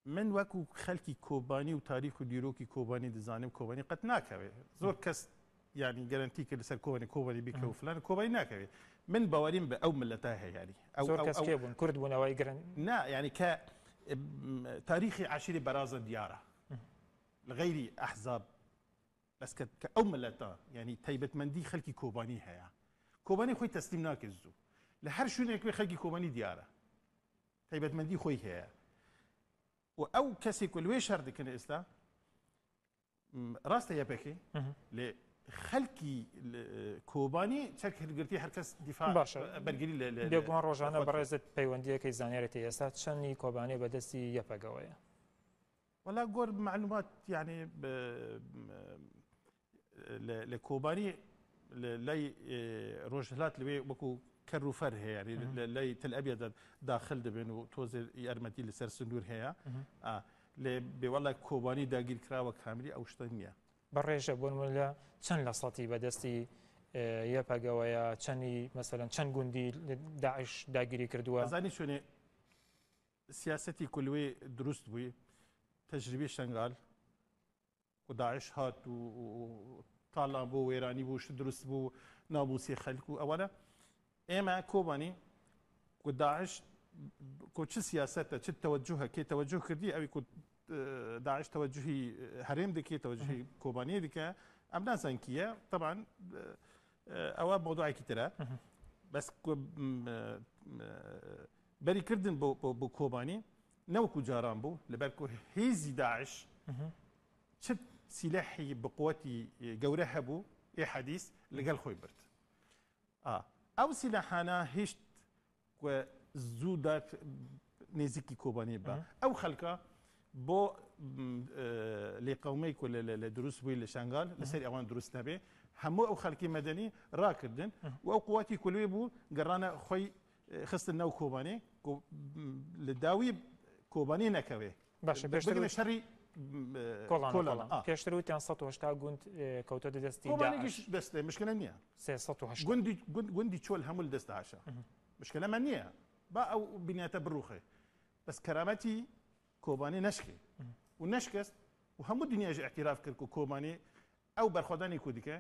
من وەکو خەلکی کۆبانی و تاریخ و دیرۆکی کۆبانی دەزانم کۆبانی قەت ناکەوێ زۆر کەس یانی گەرەنتی کرد لەسەر کۆبانی کۆبانی بیکە و فلان کۆبای ناکەوێ من باوەریم بە ئەو ملەتا هەیاری ئەو زۆر کەس کێ بوون کورد بوون ئەوەی گرن نا یانی کە تاریخی عشیری بەرازە دیارە لەغەیری ئەحزاب بەس کە کە ئەو ملەتا یانی تایبەتمەندی خەلکی کۆبانی هەیە کۆبانی خۆی تەسلیم ناکرد زوو لە هەر شوێنێک وێ خەلکی کۆبانی دیارە تایبەتمەندی خۆی هەیە و ئەو کەسێک و لێ شەر دکن ئێستا ڕاستە یەپەکەی لێ خەلکی کۆبانی چەک هەرگرتی هەرکەس دیفا باشە بەرگری لەگووان ڕۆژانە بەڕێزت پەیوەندیەکەی زانیارێتی ئێستا چەندی کۆبانی بەدەستی یەپەگەوەیە وەلا گۆر مەعلومات یانێ لە کۆبانی لای ڕۆژهلات لەوێ وەکو کەر و فەر هەیە لای تل ئەبێت داخل دەبێن و تۆزێ یارمەتی لەسەر سنوور هەیە لێ بێوەڵە کۆبانی داگیر کراوە کامری ئەو شتە نییە بە ڕێژە بۆن لە چەند لە سەتی بەدەستی یەپەگەوەیە چەندی مەسەن چەند گوندی داعش داگیری کردووە زانی شوێنێ سیاسەتی کولوێ دروست بوی تەجریبی شەنگال و داعش هات و تاڵان بۆ وێرانی بوو شت دروست بوو ناموسی خەلک و ئەوانە ئێمە کۆبانی و داعش کو چ سیاسەتە چ تەوەجوهە کێ تەوەجوه کردی ئەوی کو داعش تەوەجوهی هەرێم دەکێت تەوەجوهی کۆبانی دیکە ئەم نازان کیە طبعا ئەوە مۆدوعێکی ترە بەس بەری کردن بۆ کۆبانی نەوەکو جاران بوو لەبەرکو هیزی داعش چ سیلاحی بقوەتی گەورە هەبوو ئێ حەدیس لەگەل خۆی برد ئەو سیلاحانە هیشت زوو دات نێزیکی کۆبانی بە ئەو خەلکە بۆ لێ قومەی کو لە دروست بووی لە شنگال لەسەر ئەوان دروست نەبێ هەموو ئەو خەلکی مەدەنی راکردن و ئەو قوتی کولێ بوو گەڕانە خۆی خستن ناو کۆبانێ کۆ لە داوی کۆبانێ نەکەوێ باشە پێشتر بگرە شەڕی کۆڵان کۆلان کۆڵان. آه. پێشتر وتیان 180 گوند اه، کەوتە دەستی کۆبانێکیش داعش دەست مشکلە نییە 380 گوندی گوند- گوندی چۆل هەموو لە دەست داعشە مشکلەمان نییە با ئەو بنیاتە بڕوخێ بەس کەرامەتی کۆبانێ نەشکێ و نەشکست و هەموو دنیاش اعتراف کرد کە کۆبانێ ئەو بەرخۆدانی کوردی کە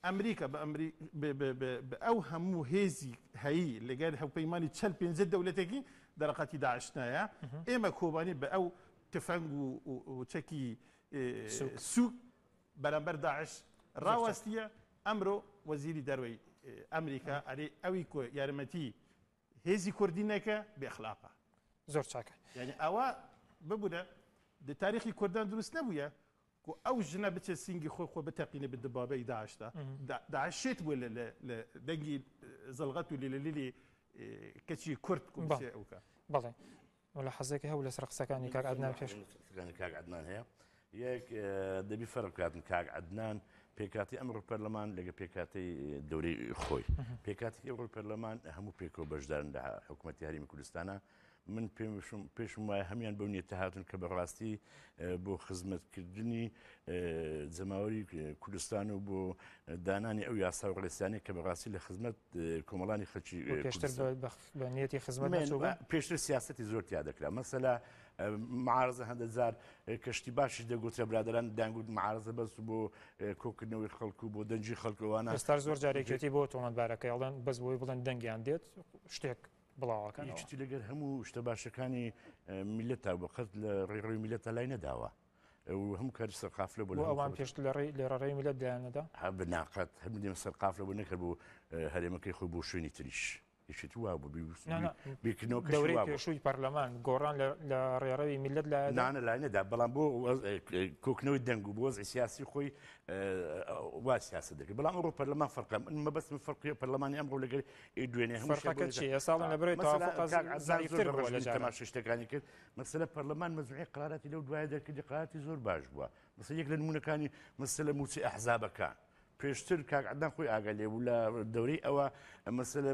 ئەمریکا بە ئەمری بە بە بە بە ئەو هەموو هێزی هەیی لەگەر هەوپەیمانی چەل پێنجە دەولەتێکی دەرەقەتی داعش نایە ئێمە کۆبانی بە ئەو تفەنگ و و چەکی سوک. سوک بەرامبەر داعش راواستیە ئەمرۆ وەزیری دەروەی ئەمریکا ئەرێ ئەوی کۆ یارمەتی هێزی کوردی نەکە بێ ئەخلاقە. زۆر چاکە. یانی ئەوە ببورە دە تاریخی کوردان دروست نەبویە کو ئەو ژنە بچێت سینگی خۆی خۆ بتەقینێ بە دبابەی داعشدا داعش شێت بووە لە لە لە دەنگی زەڵغەت و لیلەلیلی کەچی کورد کو بچێ ئەوکا. بەڵێ مولەحەزەیەکی هەبوو لەسەر قسەکانی کاک عەدنان پێش. قسەکانی کاک عەدنان هەیە یەک دەبی فەرق بکاتن کاک عەدنان پێکاتی ئەمڕۆ پەرلەمان لەگە پێکاتی دەورەی خۆی پێکاتی ئەوڕۆی پەرلەمان هەموو پێکەوە بەشدارن لە حکوومەتتی هەرمی کوردستانە من پێشم وایە هەمان بەو نیێتە هاتن کە بەڕاستی بۆ خزمەتکردنی جەماوەری کوردستان و بۆ دانانی ئەو یاسا و ڕێستانی کە بەڕاستی لە خزمەت کۆمەڵانی خەچی پێشترێتی خزمەت پێشتر سیاستی زۆر تیا دەکرا مەسەلا معارزە هەندە جار کەشتی باشی دەگوترە برادران دەنگوت معارزە بەس بۆ کۆکردنەوەی خەڵکو بۆ دەنجی خەڵکەوانە ستا زۆر جارێکێتی بۆ تۆمەندبارەکەیڵەن بەس بۆی بڵند دەنگیان دێت شتێک بڵاوەکەنەوە. یەکێتی لەگەر هەموو شتە باشەکانی میلەتا بە قەت لە ڕێ ڕوی میلەتا لای نەداوە. هەموو کاری سەرقافلە بۆ ئەوان پێشت لە ڕێ لێ ڕێی میلەت دایانەدا هە بناقەت هەر دێمە سەرقافلە بۆ نەکرد بوو هەرێمەکەی خۆی بۆ شوێنی تریش. یشت وا بوو بێکنەوەکەوری پێشووی پەرلەمان گۆڕان لە ڕێڕەوی میلت لە نانە لای نەدا بەڵام بۆ کۆکنەوەی دەنگ و بۆز سیاسی خۆی وا سیاست دەکرد بەڵام ئەوڕۆ پەرلەمان فەرقم مەبەستم فەرقی پەرلەمانی ئەمڕۆ لەگەر ئەی دوێنێ هەموو شتێک فەرقەکە بۆ چیە ئێستا بڵێن لە بەرەی مثلا توافق از- کاک عەزیز زەعیفتر زۆر بووە لە بەڕێز جاران. تەماشا شتەکانی کرد مەسەلە پەرلەمان مەزوعی قراراتی لەو دوایە دەرکردی قراراتی زۆر باش بووە مەسە یەک لە نمونونەکانی مەسەلە موچی ئەحزابەکان پێشتر کاک عدنان خۆی ئاگا لێ بوو لە دەورەی ئەوە مەسەلە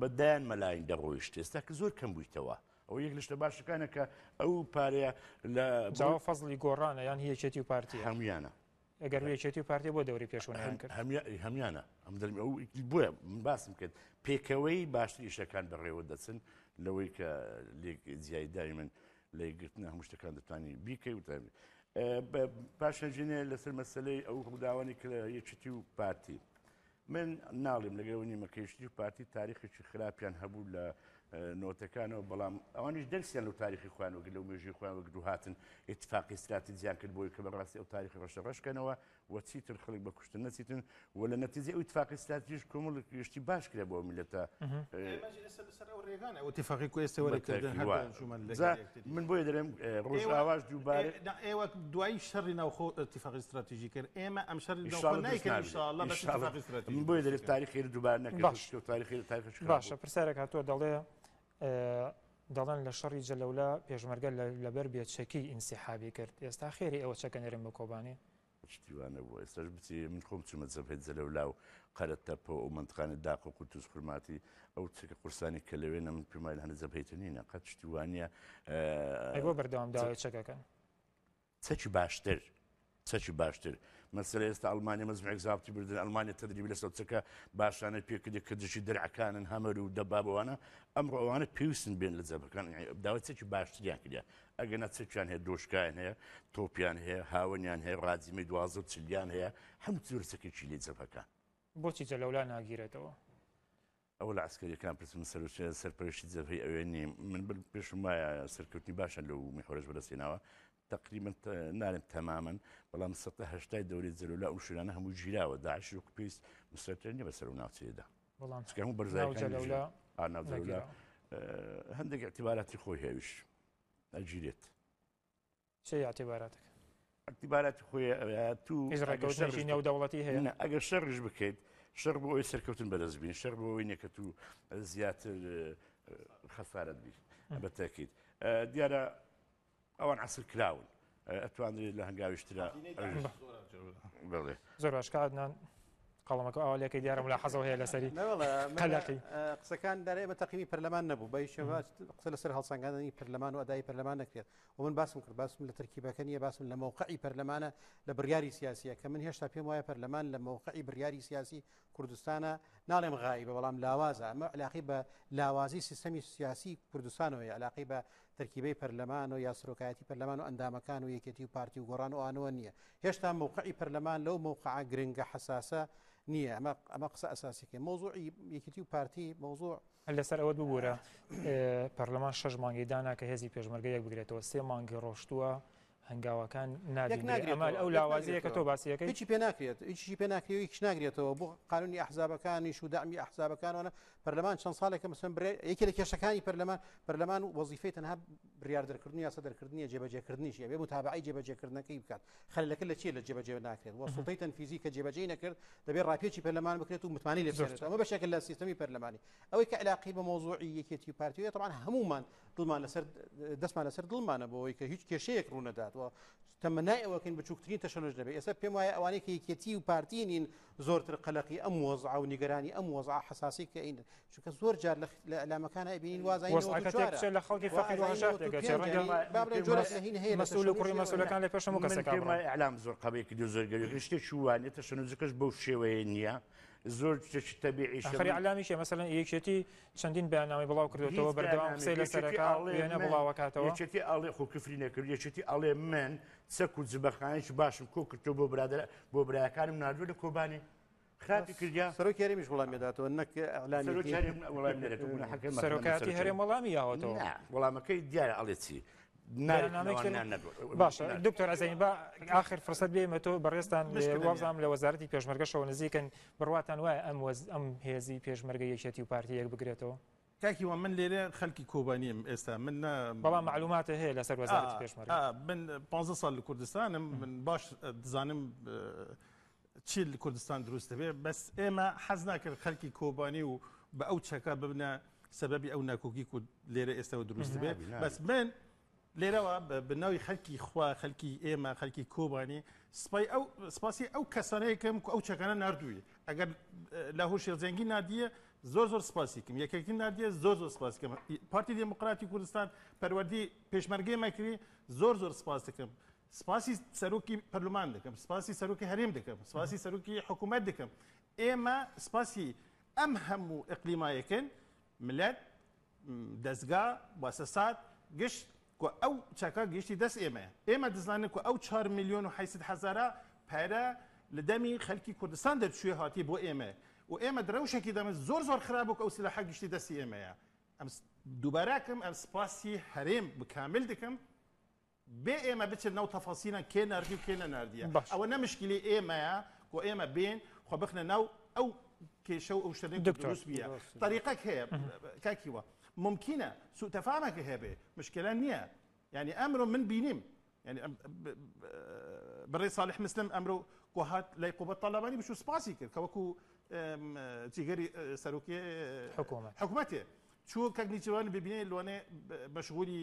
بەدایان مەلاین دەڕۆیشت ئێستا کە زۆر کەم بوویتەوە ئەو یەک لە شتە باشەکانە کە ئەو پارەیە لە جاوە فەزلی گۆڕانە یان هی یەکێتی و پارتیە هەمویانە ئەگەر و یەکێتی و پارتی بۆ دەوری پێشوو نەیان کرد هەمیانە ئەم دەرمی ئەو بۆیە من باسم کرد پێکەوەی باشتر ئیشەکان بەڕێوە دەچن لەوەی کە لێک جیای داوی من لە گرتنە هەموو شتەکان دەتوانانی بیکەی و تاوی پاشەژینێ لەسەر مەسلەی ئەو هەموداوانی کە یەکێتی و پارتی من ناڵیم لەگەڵ ئەوەی نیمە کە یەکێتی و پارتی تاریخێکی خراپیان هەبوو لە نۆتەکانەوە بەڵام ئەوانیش دەرسیان لەو تاریخی خۆیان وەگەر لەو مێژووی خۆیان وەک دووهاتن اتفاقی استراتیجیان کرد بۆی کە بەڕاستی ئەو تاریخی ڕەشە ڕەشکەنەوە و چیتر خەڵک بە کوشتن نەچیتن و لە نەتیجە ئەو اتفاقی استراتیژ کۆمەڵ گشتی باش کرا بۆ میلەتە ئێمەش ئێستا بەسەر ئەو ڕێگانە ئەو اتفاقی کۆی ئێستا وەرگرتن هەر دوایان چوومان لەگەڵ یەکتر. من بۆیە دەێم ڕۆژاواش دووبارە ئێوە دوای شەڕی ناوخۆ تیفاقی استراتیژی کرد ئێمە ئەم شەر بۆی دەێت تاریخی دووبار نەکرد تاریخی تاریخش باشە پرسیارێک هاتووە دەڵێ دەڵێن لە شەڕی جەلەولا پێشمەرگە لەبەر بێچەکی ئینسیحابی کرد ئێستا خێری ئەوە چەکە نێرم بە کۆبانی شتی وا نەبوو ئێستاش بچی من خۆم چوومە جەبهەی جەلەولا و قەرە تەپە و ئەو مەنتقانە داق و قورتوس خورماتی ئەو چەکە قورسانی کە لەوێنە من پێم وایە هەنە جەبهەی تونینە قەت شتی وا نییە ئەی بۆ بەردەوامداوای چەکەکە چەکی باشتر چەکی باشتر مەسەر ئێستا ئەلمانیا مەزمێک زابتی بردن ئەلمانیا تدریبی لە سەوچەکە باشانە پێکردی کە دژی درعەکانن هەمەر و دەبابەوانە ئەمڕۆ ئەوانە پێویستن بێن لە جەبەکان داوای چەکی باشتریان کرد ئەگەنا چەکیان هەیە دۆشکیان هەیە تۆپیان هەیە هاوەنیان هەیە ڕاجیمەی دوازە چلیان هەیە هەم زۆر چەکێکی لێ جەبەکان بۆچی جە لەولا ناگیرێتەوە ئەو لە عسکەریەکان پرسم سەرچێ سەرپەرشتی جەبهی ئەوێ نیم من بل پێشم وایە سەرکەوتنی باشە لەو میحۆرەش بەدەستێناوە تقریبا نارم تەمامن بەڵام سەهشتای دەوری جلولا ئەو شوێنانە هەموو گیراوە داعش و پێست مسەرتر نیە بەسەر و ناوچەیەدا بەڵام بەرزای هەندێک اعتباراتی خۆی هێویش ئەگیرێت. چی اعتباراتەکە؟ اعتباراتی خۆی ئەوەیە تو هیچ ڕێکەوتنێکی نێودەوڵەتی هەیە؟ نا، ئەگەر شەڕیش بکەیت، شەڕ بۆ ئەوەی سەرکەوتن بەدەست بێنی، شەڕ بۆ ئەوەی نییە کە تو زیاتر خەسارەت بیت. بە تەئکید دیارە ئەوان عەسرکراون. ئەتوانرێت لە هەنگاویش ترا بڵێ زۆر باش کە عدنان قەڵەمەکە ئەو لەکە دیارە ملا حەزەوە هەیە لەسەری قەلەقی قسەکان دەرێ بە تەقیمی پەرلەمان نەبوو بە شێواز قسە لەسەر هەڵسەنگاندنی پەرلەمان و ئەدای پەرلەمان نەکرێت و من باسم کرد باسم لە ترکیبەکە نیە باسم لە مووقعی پەرلەمانە لە بڕیاری سیاسیە کە من هێشتا پێم وایە پەرلەمان لە مووقعی بڕیاری سیاسی کوردستانە ناڵێم غایی بە بەڵام لاوازە ئەمە علاقی بە لاوازی سیستەمی سیاسی کوردستانەوەی علاقی بە تەرکیبەی پەرلەمان و یا سەرۆکایەتی پەرلەمان و ئەندامەکان و یەکێتی و پارتی و گۆڕان و ئانوە نییە هێشتا مووقعی پەرلەمان لەو مووقعە گرنگە حساسە نییە ئەمە ئەمە قسە ئەساسیکە مۆزوعی یەکێتی و پارتی مۆزوع لەسەر ئەوەت ببوورە پەرلەمان شەش مانگی دانا کە هێزی پێشمەرگە یەک بگرێتەوە سێ مانگی ڕۆشتووە هەنگاوەکان نادین بێ ئەمەل ئەو لاوازەیە کە تۆ باسی یەکەی هیچی پێ ناکرێت هیچی پێ ناکرێت هیچ ناگرێتەوە بۆ قانونی ئەحزابەکانیش و دامی ئەحزابەکانەوە پەرلەمان چەند ساڵێکە مەسەن برێ یەکێ لە کێشەکانی پەرلەمان پەرلەمان و وەزیفەی تەنها بریار دەرکردنی یاسە دەرکردنی جێبەجێکردنیش ئەبێ بۆ تابعی جێبەجێکردنەکەی بکات خەلەکە لە چێ لە جێبەجێ ناکرێت وە سڵتەی تەنفیزی کە جێبەجێ نەکرد دەبێ ڕاپێکی پەرلەمان بکرێت و متمانی لەسێت ئەمە بەشێکە لە سیستمی پەرلەمانی ئەوەی کە علاقی بە مۆزوعی یەکێتی پارتیە طبعا هەمومان دڵمان لەسەر دەستمان لەسەر دڵمانە بۆەوەی کە هیچ کێشەیەک ڕوونەدات و تەمەنای ئەوەکەین بچووکترین تەشەنج دەبێت ئێستا پێم وایە ئەوانەی کە یەکێتی و پارتی نین زۆرتر قەلقی ئەم وەزع و نیگەرانی ئەم وەزع حساسی کە ئین چونکە زۆر جار لە ئەلامەکانە ئەبینین وازای لە خەڵکی فەقیر مەسولەکان لە پێشم ئەلام زۆر قەبێکی دو زۆرگەری شتێک شووانێت تەشەنجەکەش بەو شێوەیە نییە زۆر شتەبیعیشەخری علامیشە مەسەن یەکێتی چەندین بەیاننامەی بڵاو کردوێتەوە بەردەوام قسەی لەسەرەکە وێنە بڵاوەکاتەوە یەکێتی ئاڵێ خۆ کفری نەکرد یەکێتی ئاڵێ من سەک و جبەخانێکی باشم کۆ کردو بۆ برادر بۆ برایەکانم نردوو لە کۆبانی خراپی کردیا سەرۆک یاریمیش وڵام دەداتەوە نەک سەرۆکاتی هەرێم وڵامی یاوەتەوە وڵامەکەی دیارە ئەڵێ چی باشە دکتۆر ئەزین بە آخر فرسەت بێمە تۆ بەڕێستان وازام لە وەزارەتی پێشمەرگەشەوە نزیکن بڕواتان وایە ئەم وەز ئەم هێزی پێشمەرگە یەکێتی و پارتی یەک بگرێتەوە تاکی وە من لێرە خەلکی کۆبانیم ئێستا من بەڵام معلوماتە هەیە لەسەر وەزارەتی پێشمەرگە من 15 سال لە کوردستانم من باش دزانم چی لە کوردستان دروست دەبێت بەس ئێمە حەز ناکرد خەرکی کۆبانی و بە ئەو چەکە ببنە سەبەبی ئەو ناکۆکی و لێرە ئێستەوە دروست دەبێت بەس من لێرەوە بناوی خەلکی خوا خەلکی ئێمە خەلکی کۆبانی سپای ئەو سپاسی ئەو کەسانەیەکەم ئەو چەکانە نردووی ئەگەر لە هۆشی زەنگی نادیە زۆر زۆر سپاسیکم یەکێکی نادیە زۆر زۆر سپاسکەم پارتی دموکراتی کوردستان پەروەردی پێشمەرگەی مەکری زۆر زۆر سپاستەکەم سپاسی سەرۆکی پەرلەمان دەکەم، سپاسی سەرۆکی هەرێم دەکەم، سپاسی سەرۆکی حکوومەت دەکەم. ئێمە سپاسی ئەم هەموو ئیقلیمە یەکەین، ملەت، دەزگا، موسەسات، گشت کە ئەو چەکە گەیشتی دەست ئێمەیە. ئێمە دەزانین کە ئەو چوار ملیۆن و حەیسەد هەزارە پارە لە دەمی خەلکی کوردستان دەرچوویە هاتیە بۆ ئێمە و ئێمە دە رەوشێکی دەمن زۆر زۆر خراپ بوو کە ئەو سلاحە گەیشتی دەستی ئێمەیە. ئەم دووبارە ئەکەم ئەم سپاسی هەرێم بە کامل دەکەم. بێ ئێمە بچن ناو تەفەسیلەن کێ ناردی و کێ نەناردیە باشە ئەوە نە مشکلی ئێمەیە و ئێمە بێن خۆ بخنە ناو ئەو کێشە و ئەو شتەنێک کە دکتۆر دروست بیە ڕاست میگە طریقەک هەیە کاک هیوا مومکینە سوء تەفامەکە هەبێ مشکلە نییە یانی ئەمرۆ من بینیم یانی ئەم ب- ب- بڕێ ساڵح مسلم ئەمرۆ کۆ هات لای قوباد تاڵەبانی بچوو سپاسی کرد کە وەکوو ئەم، جیگەری ئە، سەرۆکی ئە، حکوومەت حکومەتێ چوو کاک نیچیروان ببینێ لۆنێ ب- مەشغوولی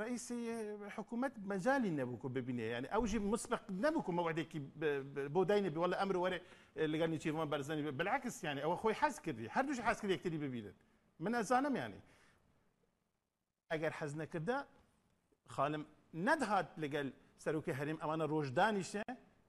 ڕەئیسی حکوومەت مەجای نەبوو کە ببینێ یانی ئەوژی مسبق نەبوو کە مەوعدێکی بۆ دای نەبی وەڵە ئەمر وەرێ لەگەڵ نیچیرمان بەرزەنی بەلاکس یانی ئەوە خۆی حەز کردی هەردووش حەز کرد یەکتری ببینن من ئەزانم یانی ئەگەر حەز نەکردە خانم نەدهات لەگەل سەرۆکی هەریم ئەوانە ڕۆژدانیشێ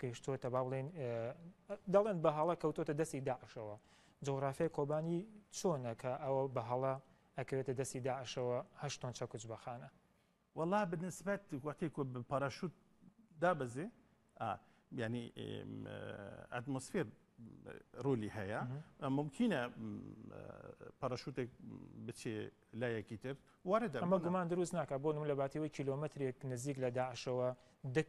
گەیشتۆتە با بڵێن دەڵێن بە هەڵە کەوتۆتە دەستی داعشەوە جۆغرافیای کۆبانی چۆنە کە ئەوە بە هەڵە ئەکەوێتە دەستی داعشەوە هەشتۆن چەکوچ بەخانە وەڵا بنسبەت وەکەی پاراشوت دابەزێ ینی ئەتمۆسفێر ڕۆلی هەیە ممکنە پاراشوتێک بچێ لایەکی تر وارە دەمە گومان دروست ناکە بۆ نم لە باتیەوەی کیلومترێک نزیک لە داعشەوە دەک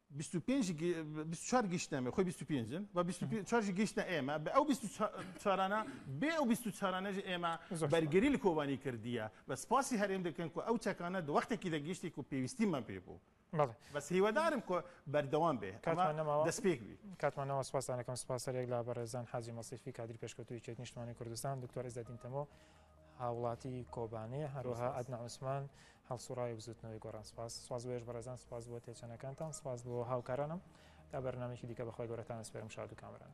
بیست و پێنج گی بیست و چوار گیشتنە مێ خۆی بیست و پێنج و بیست و پێ چوارژی گیشتە ئێمە بە ئەو بیست و چا چارانە بێ ئەو بیست و چارانەژ ئێمە زۆر سوپاس. بەرگری لە کۆبانی کردیە بە سپاسی هەرێم دەکەن کو ئەو چەکانە دە وەختێکی دە گیشتی کو پێویستیمان پێ بوو بەڵێ. بەس هیوادارم کو بەردەوام بێ ئەمە کاتمان نەماوە دەس پێک بی. کاتمان نەماوە سوپاستان دەکەم سوپاس هەر یەک لە بەڕێزان حاجی مەسیفی کادری پێشکەوتوو یەکێتی نیشتمانی کوردستان، دکتۆر عیزەدین تەمۆ هاوڵاتی کۆبانێ، زۆر هەروەها سوپاس. عەدنان عوسمان، هەڵسوڕاوی بزوتنەوەی گۆڕان سپاس. سپاس بۆ ئێش بەڕێزان سپاس بۆ تێچەنەکانتان سپاس بۆ هاوکارانم تا بەرنامەیەکی دیکە بەخوای گەورەتان ئەسپێرم شاد و کامەران.